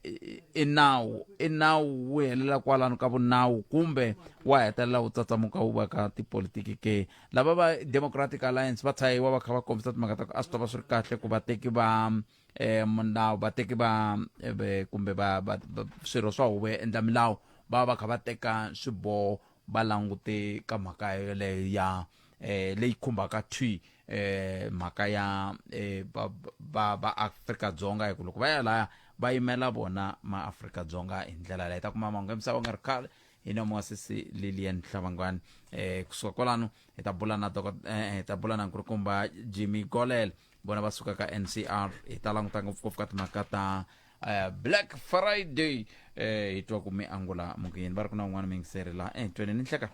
i nawu i nawu wu helela kwalano ka vunawu kumbe wa hetelela wu tsatsamuka wu va ka tipolitiki ke lava va democratic alliance va tshayiwa va kha va kombisa timhaka ta ku a swi ta va swi ri kahle ku vateki va eh milawu vateki va eh, ve- kumbe va va- va- swirho swa huvo ya endla milawu va va kha va teka swiboho va langute ka mhaka yoleyo ya eh leyi khumbaka thwi eh mhaka ya eh va va va Afrika Dzonga hi ku loko va ya laya va yimela vona ma Afrika Dzonga hi ndlela leyi ta kuma mahungu ya misava nga ri khale hi na muasisi Lilian Hlavangwani eh kusuka kwalano hi ta bula na doko- eh, hi ta bula na nkulukumba Jimmy Golel vona va suka ka ncr hi ta languta ngopfungopfu ka timhaka ta eh, black friday eh, hi twa ku mi angula mukuyeni va ri ku na un'wana mingiseri laha entweni ni nhleka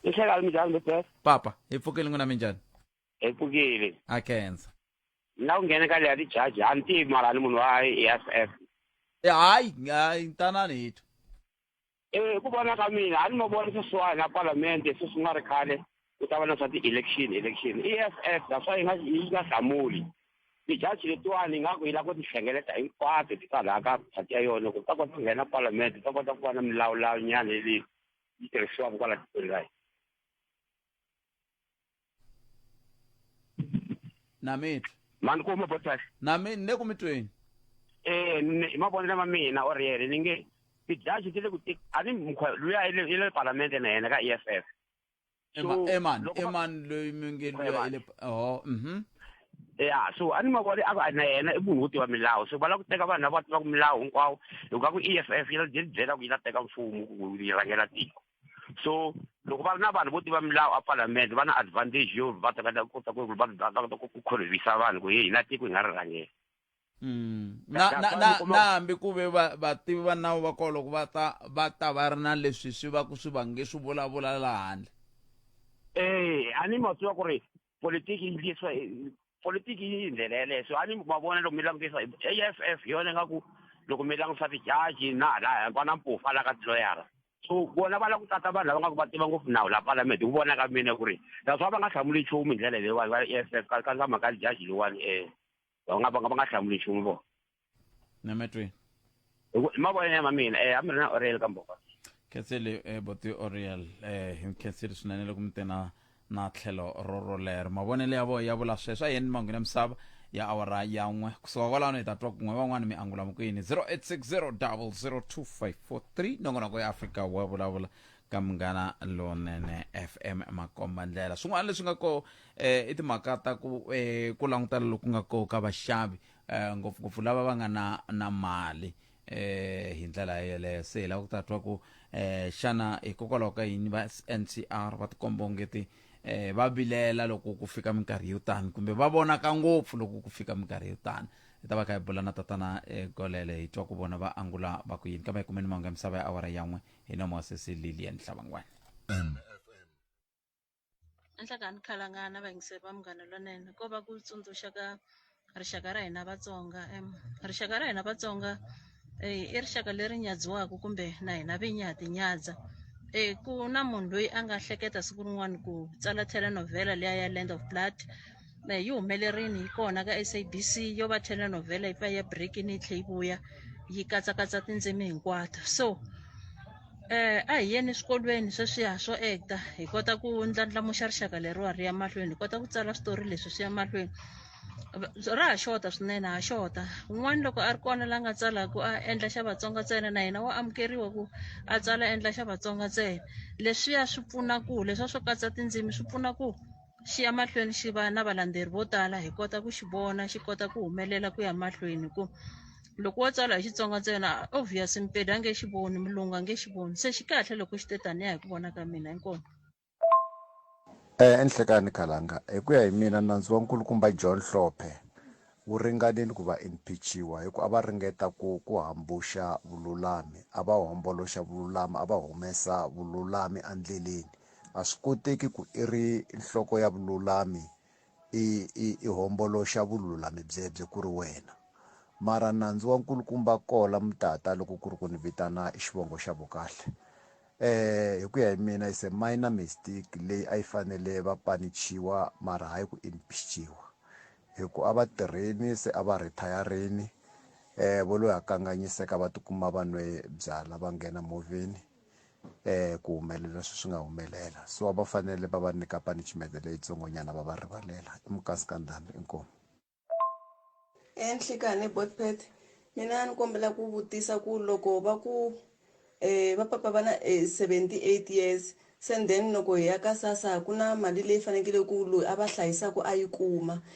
ni hleka mi njhani bebes papa hi pfukeli n'wina minjhani hi pfukile a khensa ni la ku nghena ka leya tijaji a ni tivi mara ni munhu wa i s f Eh, hayi hayi ntanani hi twa Eh, ku vona ka mina a ni ma vona sweswiwani a palamende sweswi nga ri khale ku ta va na swa ti-election election e f f that's why yi nga yi nga hlamuli tijaji letiwani ingaku yi lava ku ti hlengeleta hinkwato ti kwalaha ka phati ya yona ku ta kota ku nghena palamende ta kota ku va na milawulawu nyana leyi yi tirhisiwaka kwala tikweni ra hina namitwa ma ni kuma boss kahle nami ni le ku mitweni eh ni- hi mavonelo ma mina or yena ni nge tijaji ti le ku ti a ni mukha luya i le i le palamende na yena ka EFF Ema- So, eman loko va- eman loyi mi nge luya Eman. ile ho mhm ya so a ni mavoni a ku a na yena i munhu wo tiva milawu so va lava ku teka vanhu lava tivaka milawu hinkwawo hikuva ku EFF yi la yi byela ku yi la teka mfumo ku yi rhangela tiko so loko va ri na vanhu vo tiva milawu epalamende va na advantage yo va ta kota kota ku va va kota ku khorhivisa vanhu ku hi hina tiko hi nga ri rhangela mm. na na na na hambi ku ve vativi va nawu va kona loko va ta va ta va ri na leswi swi va ku swi vange swi vulavula laha handle eh a ni ma swi va ku ri politiki yi ndliswa politiki yi yi ndlela yeleyo so a ni ma vona loko mi langutisa a f f hi yona nga ku loko mi langusa tijaji na hala hinkwa na mpufa la ka tiloyara so vona va la ku tata vanhu lava nga ku va tiva ngopfu nawu la palamende ku vona ka mina ku ri naswona va nga hlamuli nchumu hi ndlela leyiwani va e f f ka ka ka mhaka tijaji leyiwani um va nga va nga va nga hlamuli nchumu vona na matwi hi ku- hi mavonelo ya ma mina eh a mi ri na orel ka mboko khenseli eh, boti oriel eh, hi khenseli swinene loko mi te na na tlhelo ro rolero mavonelo ya voho ya vula sweswo a yeni manghwini ya misava ya awara ya n'we kusuka kwalano hi ta twa kun'we van'wani mi angula mukuyini 0860 002 543 nongonoko ya afrika wa vulavula ka munghana lonene fm makomba ndlela swin'wana leswi nga ko eh, i timhaka ta ku eh, ku langutana loku nga ko ka vaxavi eh, ngopfungopfu lava va nga na na mali eh, hi ndlela yeleyo se hi lava ku ta twa ku eh, xana hikokwalaho ka yini va ncr va tikomba ongeti eh, va vilela loko ku fika minkarhi yo tani kumbe va vonaka ngopfu loko ku fika minkarhi yo tani hi ta va kha hi bula na tatana eh, golele hi twa ku vona va angula va ku yini kambe hi kumeni mahungu ya misava ya awara yan'we hi nomo sesi lilian hlabangwana anhlangani khalangana vayingiseri va munghana lonene ko va ku tsundzuxa ka rixaka ra hina vatsonga em rixaka ra hina vatsonga eh, i rixaka leri nyadziwaka kumbe na hina vinyi ha tinyadza eh, ku na munhu loyi a nga hleketa siku rin'wana ku tsala telenovela leya ya land of blood na hi yi humelerini hi kona ka sabc yo va telenovela yi pfa ya breakini yi tlhe yi vuya yi katsakatsa tindzimi hinkwato so eh a hi yeni swikolweni sweswiya swo ekta hi kota ku ndlandlamuxa rixaka leriwa ri ya mahlweni hi kota ku tsala switori leswi swi ya mahlweni ra ha xota swinene ha xota un'wana loko a ri kona la nga tsalaka a endla xa vatsonga ntsena na yena wa amukeriwa ku a tsala endla xa vatsonga ntsena leswiya swi pfuna ku leswiya swo katsa tindzimi swi pfuna ku xi ya mahlweni xi va na valandzeri vo tala hi kota ku xi vona xi kota ku humelela ku ya mahlweni ku loko wo tsala hi xitsonga ntsena obvious mpedi a nge xi voni mulungu a nge xi voni se xi kahle loko xi te taniya hi ku vona ka mina inkomo eh, enhlekani khalanga hi ku ya hi mina nandzu wa nkulukumba john hlophe wu ringanile ku va impeachiwa hi ku a va ringeta ku ku hambuxa vululami a va homboloxa vululami a va humesa vululami endleleni A swi koteki ku i ri nhloko ya vululami i, i, i homboloxa vululami byebye ku ri wena. Mara nandzu wa nkulukumba Kola mutata loko ku ri ku ni vitana xivongo xa Vukahle. E, hi ku ya hi mina it's a minor mistake leyi a yi fanele va panichiwa mara hayi ku impeachiwa. Hi ku a va tirheni se a va rhithayarini, e, vo lo ya kanganyiseka va ti kuma va nwe byala va nghena movheni. eh ku humelela leswi swi nga humelela so va fanele va va nyika punishment leyitsongonyana va va rivalela i mukasi ka ndhambi inkomu enhlikani botpet mina ni kombela ku vutisa ku loko va ku eh va papa va na eh, 78 years sen then loko hi ya ka sasa ku na mali leyi fanekele ku loyi a va hlayisaka a yi kuma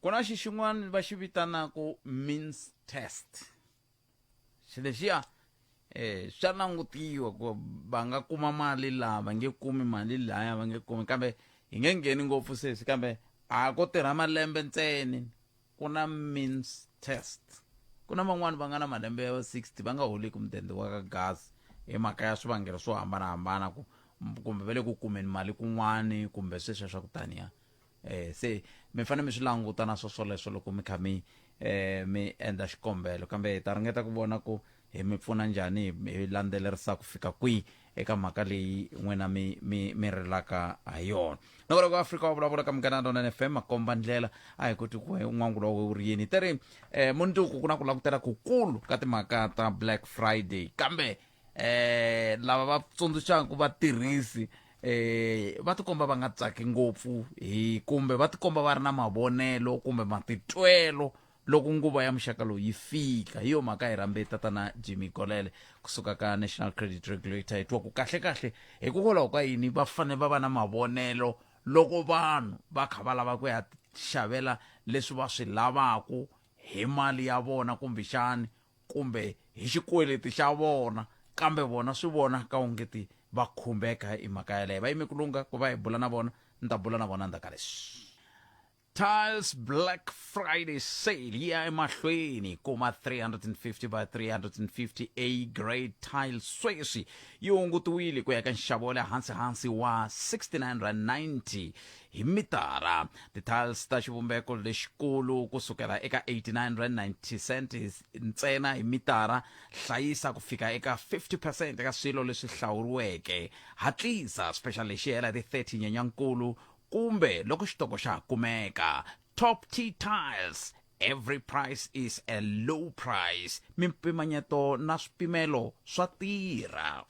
ku na xi xin'wana va xi vitanaka means test xi lexiya eh swa langutiwa ku va nga kuma mali laha va nge kumi mali laya va nge kumi kambe hi nge ngheni ngopfu sesi kambe a ko tirha malembe ntseni ku na means test ku na van'wani va nga na malembe ya 60 va nga holiki mudende wa ka gas hi mhaka ya swivangelo swo hambanahambana ku kumbe va le ku kumeni mali kun'wani kumbe sweswiya swa ku taniya eh, se mi fanele mi swi languta na swoswoleswo loko mi kha mi eh, mi endla xikombelo kambe hi ta ringeta ku vona ku hi mi pfuna njhani hi landzelerisa ku fika kwihi eka mhaka leyi n'wina mi mi mi rilaka ha yona loko loko afrika wa vulavula ka munghana lona n fm makomba ndlela a hi koti ku n'wangu lowo wu ri yini te ri um munduku ku na ku langutela kukulu ka timhaka ta black friday kambe eh lava va tsundzuxaka vatirhisi eh va tikomba va nga tsaki ngopfu hi kumbe va tikomba va ri na mavonelo kumbe matitwelo loko nguva ya muxaka lowu yi fika hi yo mhaka hi rambe tatana jimmy golele kusuka ka national credit regulator hi twa ku kahle kahle hikokwalaho ka yini va fanele va va na mavonelo loko vanhu va kha va lava ku ya xavela leswi va swi lavaku hi mali ya vona kumbexani kumbe hi xikweleti xa vona kambe vona swi vona ka ungeti va khumbeka hi mhaka yaleyo va yime ku lungha ku va hi bula na vona ni ta bula na vona ndzhaka leswi tiles black friday sale yi ya emahlweni kuma 350 by 350 a grade tile sweswi yi hungutiwile ku ya ka nxavo wa le hansi hansi wa 69 rand 90 hi mitara ti-tiles ta xivumbeko lexikulu ku sukela eka 89 rand 90 cent ntsena hi mitara hlayisa ku fika eka 50 percent eka swilo leswi hlawuriweke hatlisa special lexi hela hi ti-30 nyenyankulu kumbe loko xitoko xa ha kumeka top t tiles every price is a low price mimpimanyeto na swipimelo swa tirha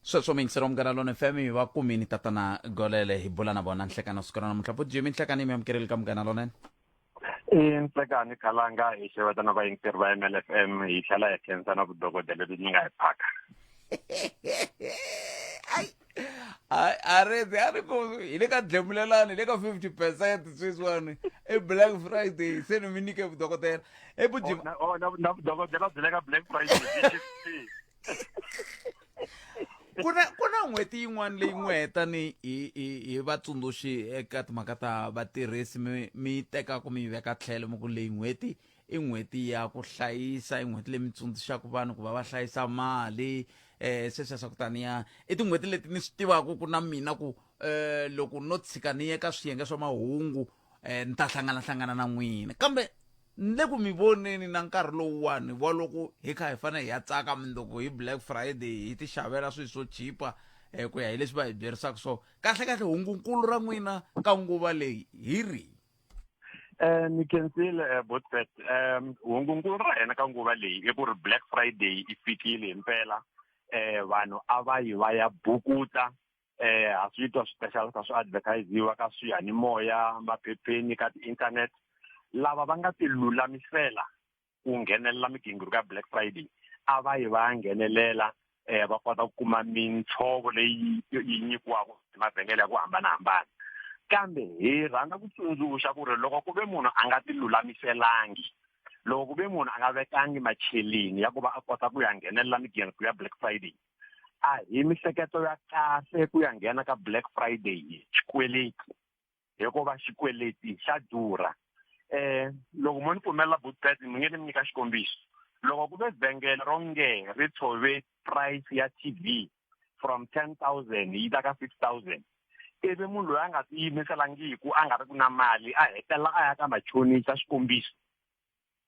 sweswo mingisela munghana lona fm hi va kumini tatana golele hi bula na vona nhlekana siku ra namuntlha vo jimi nhlekana yi mi amukeleli ka munghana lonene i nhlekani khalanga hi xeweta na vayingiseri va ml f m hi tlhela hi khensa na vudokodela lebyi mi nga hi phaka Ai, a- a ri a ri ku hi le ka dlemulelani hi le ka 50 percent sweswiwani i black friday se ni mi nyike vudokodela i vujima na vudokodela byi le ka black friday ku na ku na n'hweti yin'wana leyi n'wi heta ni hi hi hi vatsundzuxi eka timhaka ta vatirhisi mi mi tekaka mi yi veka tlhelo mi ku leyi n'hweti i n'hweti ya ku hlayisa i n'hweti leyi mi tsundzuxaka vanhu ku va va hlayisa mali um sweswiya swa ku taniya i tin'hweti leti ni swi tivaka ku na mina ku um loko no tshika ni ye ka swiyenge swa mahungu um ni ta hlanganahlangana na n'wina kambe ni le ku mi voneni na nkarhi lowuwani wa loko hi kha hi fanele hi ya tsaka mindoko hi black friday hi ti xavela swilo swo chipa um ku ya hi leswi va hi byerisaka so kahle kahle hungunkulu ra n'wina ka nguva leyi hi ri eh, um ni kensile eh, botfet um hungunkulu ra hina ka nguva leyi i ku ri black friday i fikile hi mpela um vanhu a va yi va ya bukuta eh ha swi twa special ka swi advertisiwa ka swiyanimoya maphepheni ka ti-internet lava va nga tilulamisela ku nghenelela migingiriko ya black friday a va yi va ya nghenelela um va kota ku kuma mintshovo leyi yi nyikiwaka mavhengele ya ku hambanahambana kambe hi rhandza ku tsundzuxa ku ri loko ku ve munhu a nga tilulamiselangi loko ku ve munhu a nga vekangi macheleni ya ku va a kota ku ya nghenelela migingiriko ya black friday a hi mihleketo ya kahle ku ya nghena ka black friday hi xikweleti hikuva xikweleti xa durha um loko mo ni pfumelela butbet mi nge ni mi nyika xikombiso loko ku ve vhengele ro nge ri tshove price ya t v from ten thousand yi ta ka six thousand ivi munhu loyi a nga tiyimiselangiku a nga ri ku na mali a hetelela a ya ka machonisa xikombiso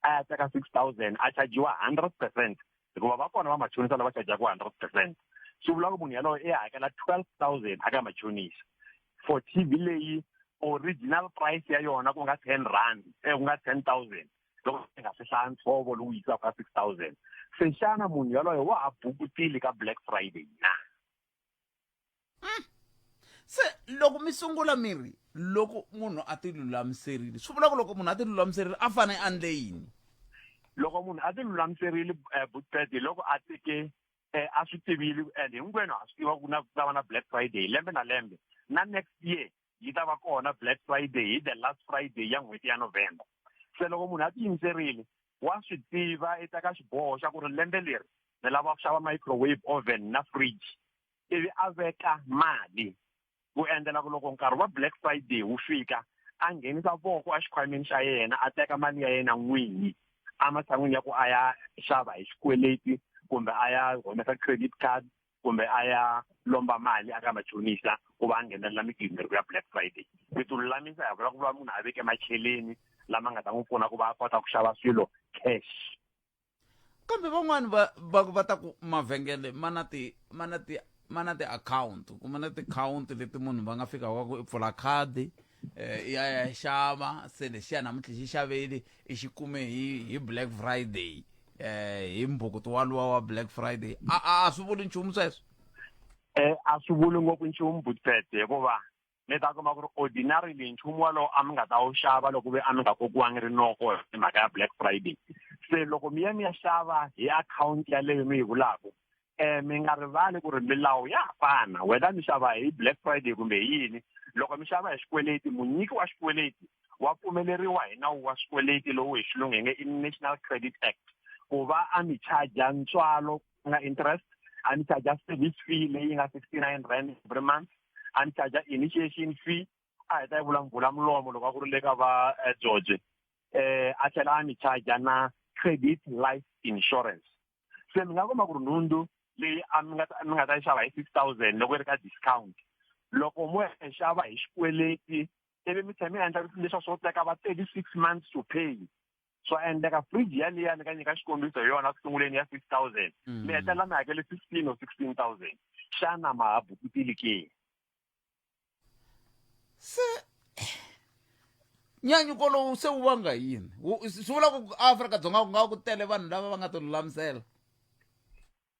a ya teka six thousand a chajiwa hundred percent hikuva va kona vamachonisa lava chajaka hundred percent swi vula ku munhu yalowo i hakela twelve thousand aka machonisa for t v leyi original price ya yona ku nga ten rand eh, ku nga ten thousand loko i nga swi hlaya ntsovo lowu yisaka ka six thousand se xana munhu yaloyo wa ha bukutile ka black friday na mm. se loko mi sungula mi ri loko munhu a ti lulamiserile swi vula ku loko munhu a ti lulamiserile a fane a ndle yini loko munhu a ti lulamiserile um eh, butete loko a teke um eh, a swi tivile and hinkwenu ha swi tiva ku na ku ta va na black friday lembe na lembe na next year yi ta va kona black friday hi the last friday ya n'hweti ya november se loko munhu a ti yimiserile wa swi tiva i teka xiboho xa ku ri lembe leri ni lava ku xava microwave oven na fridge ivi a veka mali ku endlela ku loko nkarhi wa black friday wu fika a nghenisa voko exikhwameni xa yena a teka mali ya yena n'winyi ematshan'wini ya ku a ya xava hi xikweleti kumbe a ya humesa credit card kumbe a ya lomba mali aka machonisa ku va a nghenelela migingiriko ya black friday mi ti lulamisa hi vula ku va munhu a veke macheleni lama nga ta n'wi pfuna ku va a kota ku xava swilo cash kambe van'wani va va va ta ku mavhengele ma na ti ma na ti ma na tiakhawunti kuma na tikhawunti leti munhu va nga fika va ku i pfula khadi um ya ya xava se lexiya namuntlha xi xaveli i xi kume hi hi black friday um hi mbukuto waluwa wa black friday a a swi vuli nchumu sweswo um a swi vuli ngopfu nchumu butete hikuva mi ta kuma ku ri ordinarily nchumu walowo a mi nga ta wu xava loko ve a mi nga kokiwangi rinoko hi mhaka ya black friday se loko mi ya mi ya xava hi akhawunti yaleyo mi yi vulaka um mi nga rivali ku ri milawu ya ha fana whether mi xava hi black friday kumbe hi yini loko mi xava hi xikweleti munyiki wa xikweleti wa pfumeleriwa hi nawu wa swikweleti lowu hi xilungu hi nge i national credit act ku va a mi charger ntswalo nga interest a ni charge service fee leyi nga 69 rand every month a ni charge initiation fee a heta yi vulavula mulomo loko a ku ri le ka va eh, George eh a tlhela a ni charge na credit life insurance se mi nga kuma ku ri nhundzu leyi a mi nga mi nga ta yi xava hi six thousand loko yi ri ka discount loko mo yi xava hi xikweleti ivi mi tlhela mi endla leswa swo teka va thirty six months to pay swa endleka fridge yaliya ni ka nyika xikombiso hi yona ku sunguleni ya six thousand mm. mi hetelela mi hakele fifteen or sixteen thousand xana ma ha bukutili ke se nyanyuko lowu se wu vanga yini swi vula ku afrika dzonga ku nga ku tele vanhu lava va nga ti lulamisela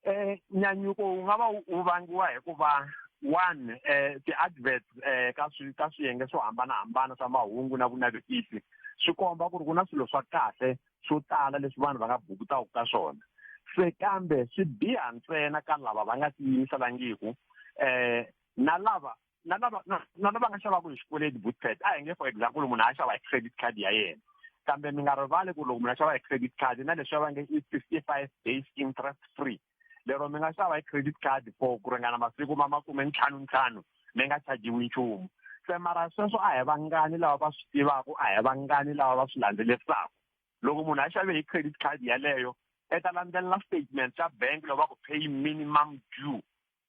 Eh, nyanyuko wu nga va wu vangiwa hi ku va one eh ti-adverts eh ka swi ka swiyenge swo hambanahambana swa mahungu na vunavetisi swi komba ku ri ku na swilo swa kahle swo tala leswi vanhu va nga bukutaka ka swona se kambe swi biha ntsena ka lava va nga tiyimisela ngiku eh na lava na lava na na lava nga xavaka hi xikweleti boot card a hi nge for example munhu a xava hi credit card ya yena kambe mi nga rivali ku loko munhu a xava hi credit card na leswi va nge i fifty five days interest free lero mi nga xava hi credit card for ku ringana masiku ma makume ntlhanu ntlhanu mi nga chajiwi nchumu se mara sweswo a hi vangani lava va swi tivaka a hi vangani lava va swi landzelerisaka loko munhu a xave hi credit card yaleyo i ta landzelela statement xa bank loko va ku pay minimum due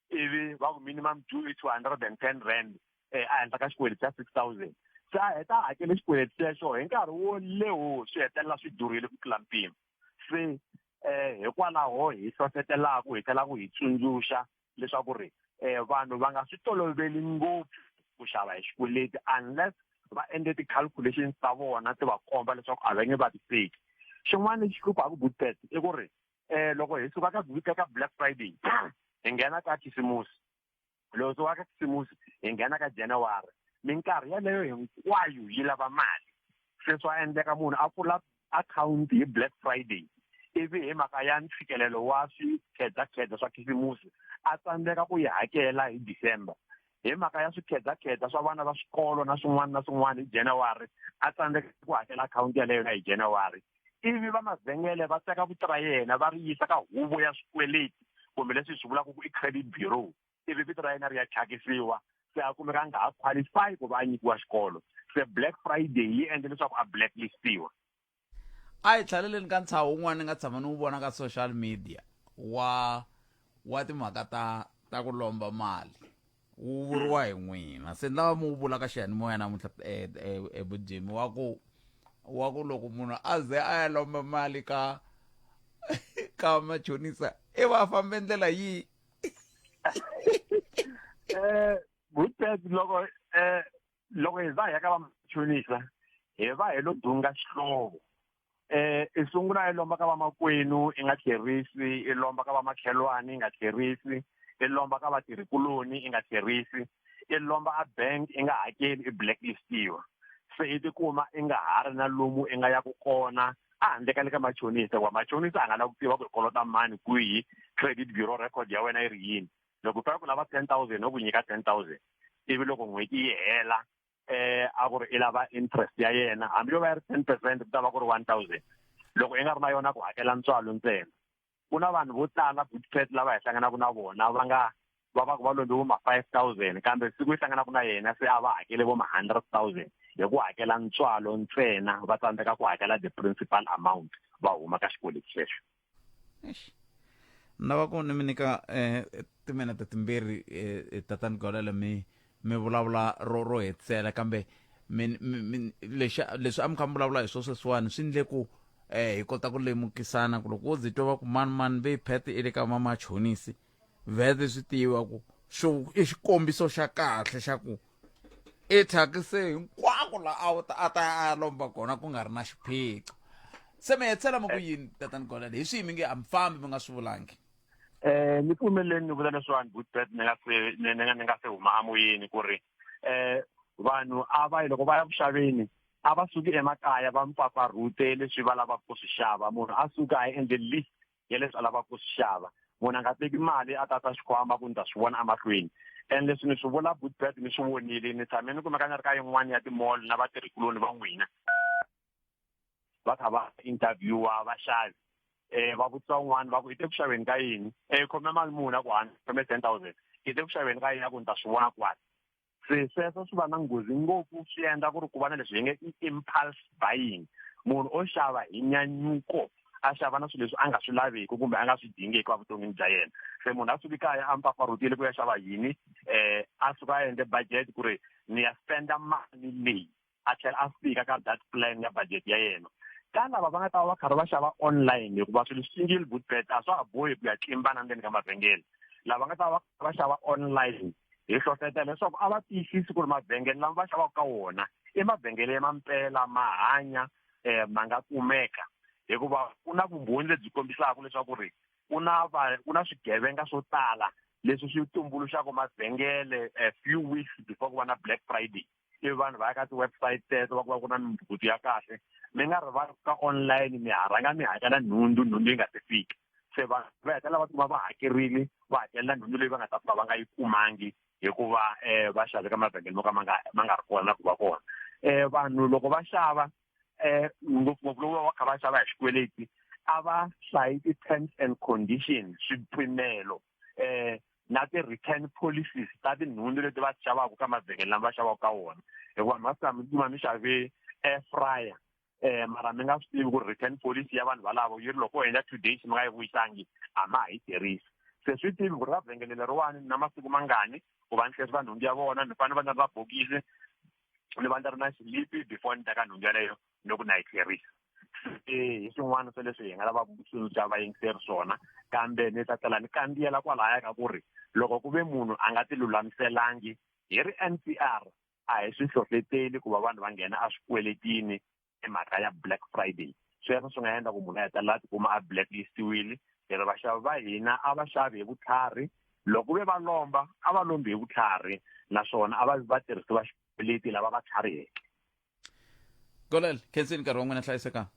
ivi va ku minimum due i two hundred and ten rand um a henhla ka xikweleti xa six thousand se a heta a hakele xikweleti xexo hi nkarhi wo lewo swi hetelela swi durile ku tlula mpimo se um hikwalaho hi hlohletelaka hi tlhelaka hi tsundzuxa leswaku ri um vanhu va nga swi toloveli ngopfu ku xava hi xikweleti unless va endle ti-calculations ta vona ti va komba leswaku a va nge va ti teki xin'wana lexi hluphaku butpet i ku ri eh loko hi suka ka vhiki ka black friday hi nghena ka khisimusi loko suka ka khisimusi hi nghena ka january minkarhi yaleyo hinkwayo yi lava mali sweswi a endleka munhu a pfula akhawunti hi black friday ivi hi mhaka ya ntshikelelo wa swikhedzakhedza swa khisimusi a tsandzeka ku yi hakela hi december hi mhaka ya swikhedzakhedza swa vana va swikolo na swin'wana na swin'wana hi january a tsandzeka ku hakela akhawunti yaleyo na hi january ivi va mavhengele va teka vito ra yena va ri yisa ka huvo ya swikweleti kumbe leswi hi swi vulaka ku i credit bureau ivi vito ra yena ri ya thyakisiwa se a kumeka a nga ha qualify ku va a nyikiwa xikolo se black friday yi endle leswaku a blacklistiwa a hi tlhaleleni ka ntshaho wun'wana ni nga tshama ni wu vona ka social media wa wa timhaka ta ta ku lomba mali wu vuriwa hi n'wina se ni lava mi wu vula ka xiyanimoya namuntlha ebujimi eh, eh, eh, wa ku wa ku loko munhu a ze a ya lomba mali ka ka machonisa i va fambe ndlela yihi um good loko um loko hi za hi ya ka vamachonisa hi va hi lo dunga xihlovo eh i sungula i lomba ka vamakwenu i nga tlherisi i lomba ka vamakhelwani i nga tlherisi i lomba ka vatirhikuloni i nga tlherisi i lomba a bank i nga hakeli i blacklistiwa se i tikuma i nga ha ri na lomu i nga ya ku kona a handle ka le ka machonisa wa machonisa a nga la ku tiva ku i kolota mani kwihi credit bureau record ya wena yi ri yini loko u fika ku lava ten thousand no ku nyika ten thousand ivi loko n'hweti yi hela eh a ku ri i lava interest ya yena hambi yo va yi ri ten percent ku ta va ku ri one thousand loko i nga ri na yona ku hakela ntswalo ntsena ku na vanhu vo tala butfet lava hi hlanganaka na vona va nga va va ku va lombe vo ma five thousand kambe siku yi hlanganaka na yena se a va hakele vo ma hundred thousand hi ku hakela ntswalo ntsena va tsandzeka ku hakela the principal amount va huma ka xikweleti xexo Eish. ni lava ku ni mi nyika um timinete timbirhi um tatani golele mi mi vulavula ro ro hetisela kambe mi mi mi lexi leswi a mi kha mi vulavula hi swo sweswiwani swi ndle ku um hi kota ku lemukisana ku loko wo ze twa va ku mani mani ve phete i le ka vamachonisi vhete swi tiva ku xo i xikombiso xa kahle xa ku i thyakise hinkwako la a ta a ta a ya lomba kona ku nga ri na xiphiqo se mi hetsela mi ku eh. yini tatani golele hi swihi mi nge a mi fambi mi nga swi vulangi um ni pfumeleni ni vula leswiwani bootbet ni nga se ni nga ni nga se huma amoyeni ku ri um vanhu a va yi loko va ya ku xaveni a va suki emakaya va mpfapfarhute leswi va lavaka ku swi xava munhu a suka a endle list ya leswi a lavaka ku swi xava munhu a nga teki mali a tata xikhwama ku ni ta swi vona emahlweni and leswi ni swi vula bootbad ni swi vonile ni tshame ni kumeka ni ri ka yin'wana ya timall na vatirhikuloni va n'wina va kha va interviewa vaxavi um va vutisa un'wana va ku i te ku xaveni ka yini um khome mali muni a ku hana khome ten thousand i te ku xaveni ka yini a ku ni ta swi vona kwani se sweswo swi va na nghozi ngopfu swi endla ku ri ku va na leswi hi nge i impulse buying munhu o xava hi nyanyuko a xava na swilo leswi a nga swi laveki kumbe a nga swi dingeki va vuton'wini bya yena se munhu a suki kaya a mpfampfarhutile ku ya xava yini um a suka a endle budget ku ri ni ya spenda mali leyi a tlhela a fika ka that plan ya budget ya yena ka lava va nga ta va va karhi va xava online hikuva swilo single boot bet a swa ha bohi ku ya tlimbana ndzeni ka mavhengele lava nga ta va va xava online hi hlohlotela leswaku a va tiyisisi ku ri mavhengele lama va xavaka ka wona i mavhengele ya mampela ma hanya um ma nga kumeka hikuva ku na vumbhoni lebyi kombisaka leswaku ri ku na va ku na swigevenga swo tala leswi swi tumbuluxaka mavhengele a few weeks before ku va na black friday ivi vanhu va ya ka ti-website teto va ku va ku na mimpfukutu ya kahle mi nga rivali ka online mi ha rhanga mi hakela nhundzu nhundzu yi nga se fika se vanhu va hetelela va tikuma va hakerile va hakelela nhundzu leyi va nga ta fika va nga yi kumangi hikuva um va xave ka mavhengele mo ka ma nga ma nga ri kona na ku va kona um vanhu loko va xava um ngopfungopfu loku va va kha va xava hi xikweleti a va hlayi ti-terms and conditions swipimelo um na ti-return policies ta tinhundzu leti va xavaka ka mavhengele lama va xavaka ka wona hikuva mhasa mi kuma mi xave air fryer um mara mi nga swi tivi ku ri return policy ya vanhu valavo yi ri loko u endla two days mi nga yi vuyisangi a ma ha yi tirhisi se swi tivi ku ri va vhengele leriwani na masiku mangani ku va ni hlesi va nhundzu ya vona ni fanele va ni ri na bokisi ni va ni ri na xilipi before ni teka nhundzu yaleyo ni ku na yi tlherisa se hi swin'wana swa leswi hi nga lavaka ku tsundzuxa vayingiseri swona kambe ni ta tlhela ni kandziyela kwalaya ka ku ri loko ku ve munhu a nga tilulamiselangi hi ri n p r a hi swi hlohleteli ku va vanhu va nghena a swikweletini hi mhaka ya black friday sweswo swi nga endla ku munhu a hetelela a tikuma a blacklistiwile hi ri vaxavi va hina a va xavi hi vutlhari loko ve va lomba a va lombi hi vutlhari naswona a va va tirhisi va xikweleti lava va tlhariheke golel khensini nkarhi wa n'wina hlayisekanga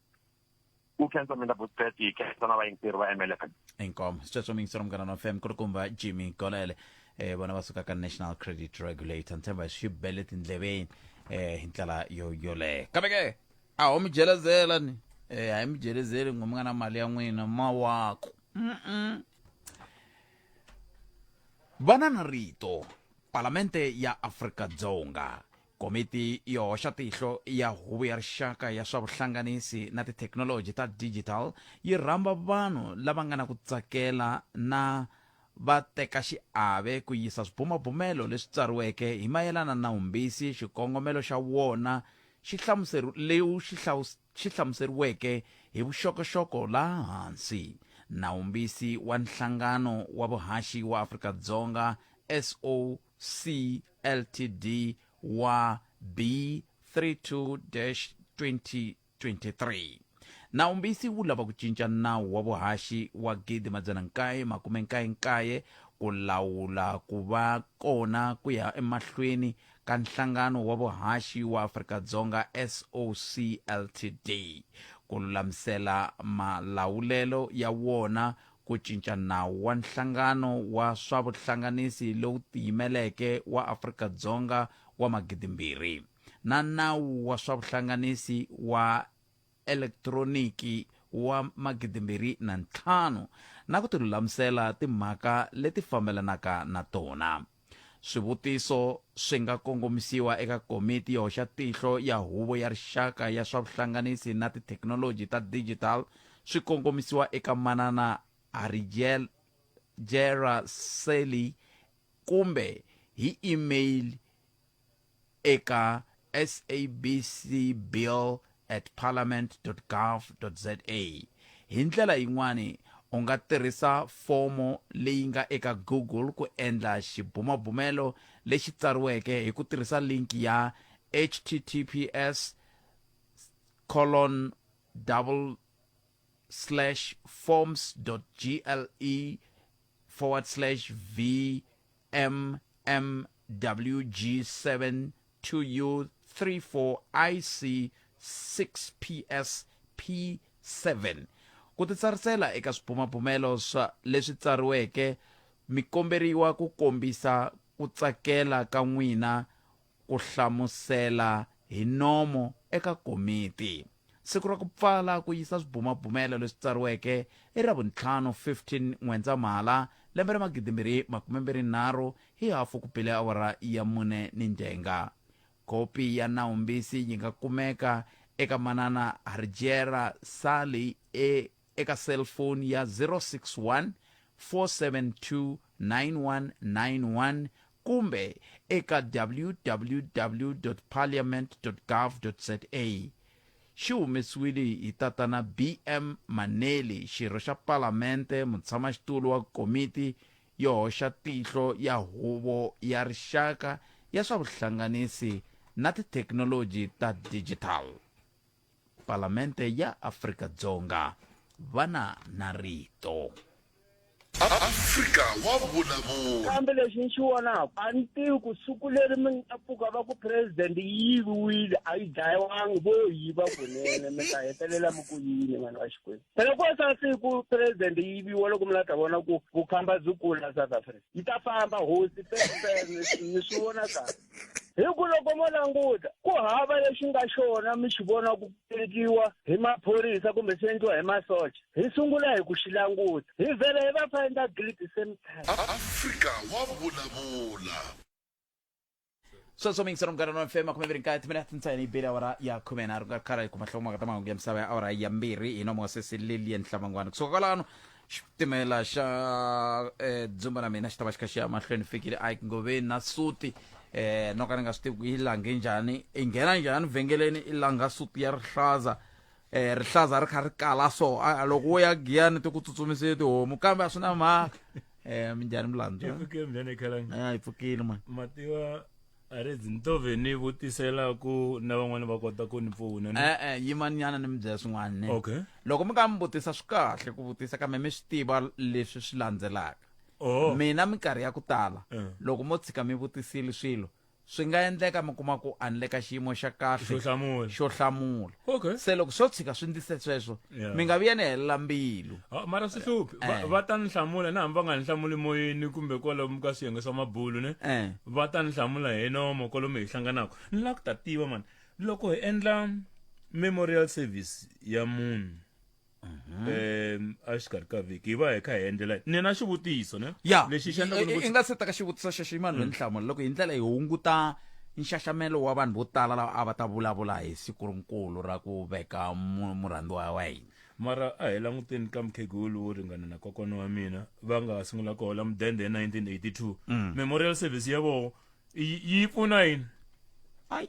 ku khensa mina vutseti hi khensa na vayingiseri va mlf inkomo sitswetswa mingisero munghana na fm ku ri kumba jimmy golele eh, vona va suka ka national credit regulator ni tshemba swi bele tindleveni eh, hi ndlela yo yoleyo kambe ke a ho mi jelezela ni eh, a hi mi jelezeli ngo mi nga na mali ya n'wina mawako Mm-mm. vanana rito palamende ya afrika dzonga Komiti yo hoxa tihlo ya Huvo ya Rixaka ya swa Vuhlanganisi na Tithekinoloji ta Digital yi rhamba vanhu lava nga na ku tsakela na vatekaxiave ku yisa swibumabumelo leswi tsariweke hi mayelana na Humbisi xikongomelo xa wona xi hlamuserilewu xi xi hlamuseriweke hi vuxokoxoko laha hansi na Humbisi wa Nhlangano wa Vuhaxi wa Afrika-Dzonga, SOUA. CLTD wa B32-2023. Nawumbisi wu lava ku cinca nawu wa vuhaxi wa 1999 ku lawula ku va kona ku ya emahlweni ka nhlangano wa vuhaxi wa Afrika-Dzonga SOCLTD, ku lulamisela malawulelo ya wona Ku cinca nawu wa Nhlangano wa swa Vuhlanganisi lowu Tiyimeleke wa Afrika-Dzonga wa Magidimbirhi na Nawu wa swa Vuhlanganisi wa Elektroniki wa Magidimbirhi na Ntlhanu na ku tilulamisela timhaka leti fambelanaka na tona. Swivutiso swi nga kongomisiwa eka Komiti yo Hoxa Tihlo ya Huvo ya Rixaka ya swa Vuhlanganisi na Tithekinoloji ta Digital swi kongomisiwa eka Manana Harigel Jera Seli kumbe hi e-mail eka sabcbill at parliament.gov.za. Hi ndlela yin'wana, u nga tirhisa fomo leyi nga eka Google ku endla xibumabumelo lexi tsariweke hi ku tirhisa linki ya https colon double slash forms.gle forward slash vmmwg7 2u34ic6psp7 ku titsarisela eka swibumabumelo swa leswi tsariweke mi komberiwa ku kombisa ku tsakela ka n'wina ku hlamusela hi nomo eka komiti. Siku ra ku pfala ku yisa swibumabumelo leswi tsariweke i Ravuntlhanu 15 N'wendzamhala lembe ra magidimbirhi makume mbirhi nharhu hi hafu ku bile awara ya mune ni ndenga. Kopi ya nawumbisi yi nga kumeka eka Manana Harjera Sally e. eka selfoni ya 061 4729191 kumbe eka www.parliament.gov.za. Xi humesiwile hi Tatana BM Maneli, xirho xa Palamente, mutshamaxitulu wa Komiti yo Hoxa Tihlo ya Huvo ya Rixaka ya swa Vuhlanganisi na Tithekinoloji ta Digital. palamende ya afrika-dzonga vana na rito afrika wa vulavula kambe lexi ni xi vonaka a ni tivi ku siku leri mi nga pfuka va ku president yi yiviwile a yi dlayiwangi vo yiva kunene mi ta hetelela mi ku yini vanhu va xikwembu phela ko sa siku president yi yiviwa loko mi la ta vona ku vukhamba byi kula south africa yi ta famba hosi ni swi vona kahle hi ku loko mo languta ku hava lexi nga xona mi xi vona ku tekiwa hi maphorisa kumbe swi endliwa hi masocha hi sungula hi ku xi languta hi vhele hi va find a guilty same time afrika wa vulavula sweswo mi yingisela munghana wa fm khume mbirhi nkaye timinete ntsena yi bele awara ya khume nharhu nga karhi ku mahlongo maka ta mahungu ya misava ya awara ya mbirhi hi nomosesi lilian hlamangwana kusuka kwalano xitimela xa eh, dzumba na mina xi ta va xi kha xi ya mahlweni fikile ike ngoveni na suti eh no ka ni nga swi tivi ku yi lange njhani i nghena njhani vhengeleni i langa suti ya rihlaza eh rihlaza ri kha ri kala so a- a loko wo ya giyani ti ku tsutsumisile tihomu kambe a swi na mhaka eh minjhani milandzu ipfuke mbyana ikhalanga a yi pfukile mani mativa a ri ndzi to ve ni vutisela ku na van'wana va kota ku ni pfuna ni e-e yimanyana ni mi byela swin'wana ne okay loko mi ka mi vutisa swi kahle ku vutisa kambe mi swi tiva leswi swi landzelaka oh mina minkarhi ya ku tala Eh. loko mo tshika mi vutisile swilo swi nga endleka mi kuma ku a ni le ka xiyimo xa kahle xo hlamula xo hlamula okay se loko swo tshika swi ndise sweswo Yeah. mi nga vi ya ni helela mbilu Ah, mara swi hluphi Va- Eh. va ta ni hlamula na hambi va nga ni hlamuli moyeni kumbe kwalomu ka swiyenge swa mabulu ne Eh. va ta ni hlamula hi nomo kwalomu hi hlanganaka ni lava ku ta tiva mani loko hi endla memorial service ya munhu um exikarhi ka vhiki hi va hi kha hi endlela ni na xivutiso ne ya lexi xi endla ku i- ni i- ku- i nga se teka xivutiso xexo i mani loyi ni hlamula loko hi ndlela hi hunguta nxaxamelo wa vanhu vo tala lava a va ta vulavula hi siku rinkulu ra ku veka mu- murhandziwa wa hina mara a hi languteni ka mukhegulu wo ringana na kokwana wa mina va nga sungula ku hola mudende hi 1982 memorial service ya voho yi yi pfuna yini Ai.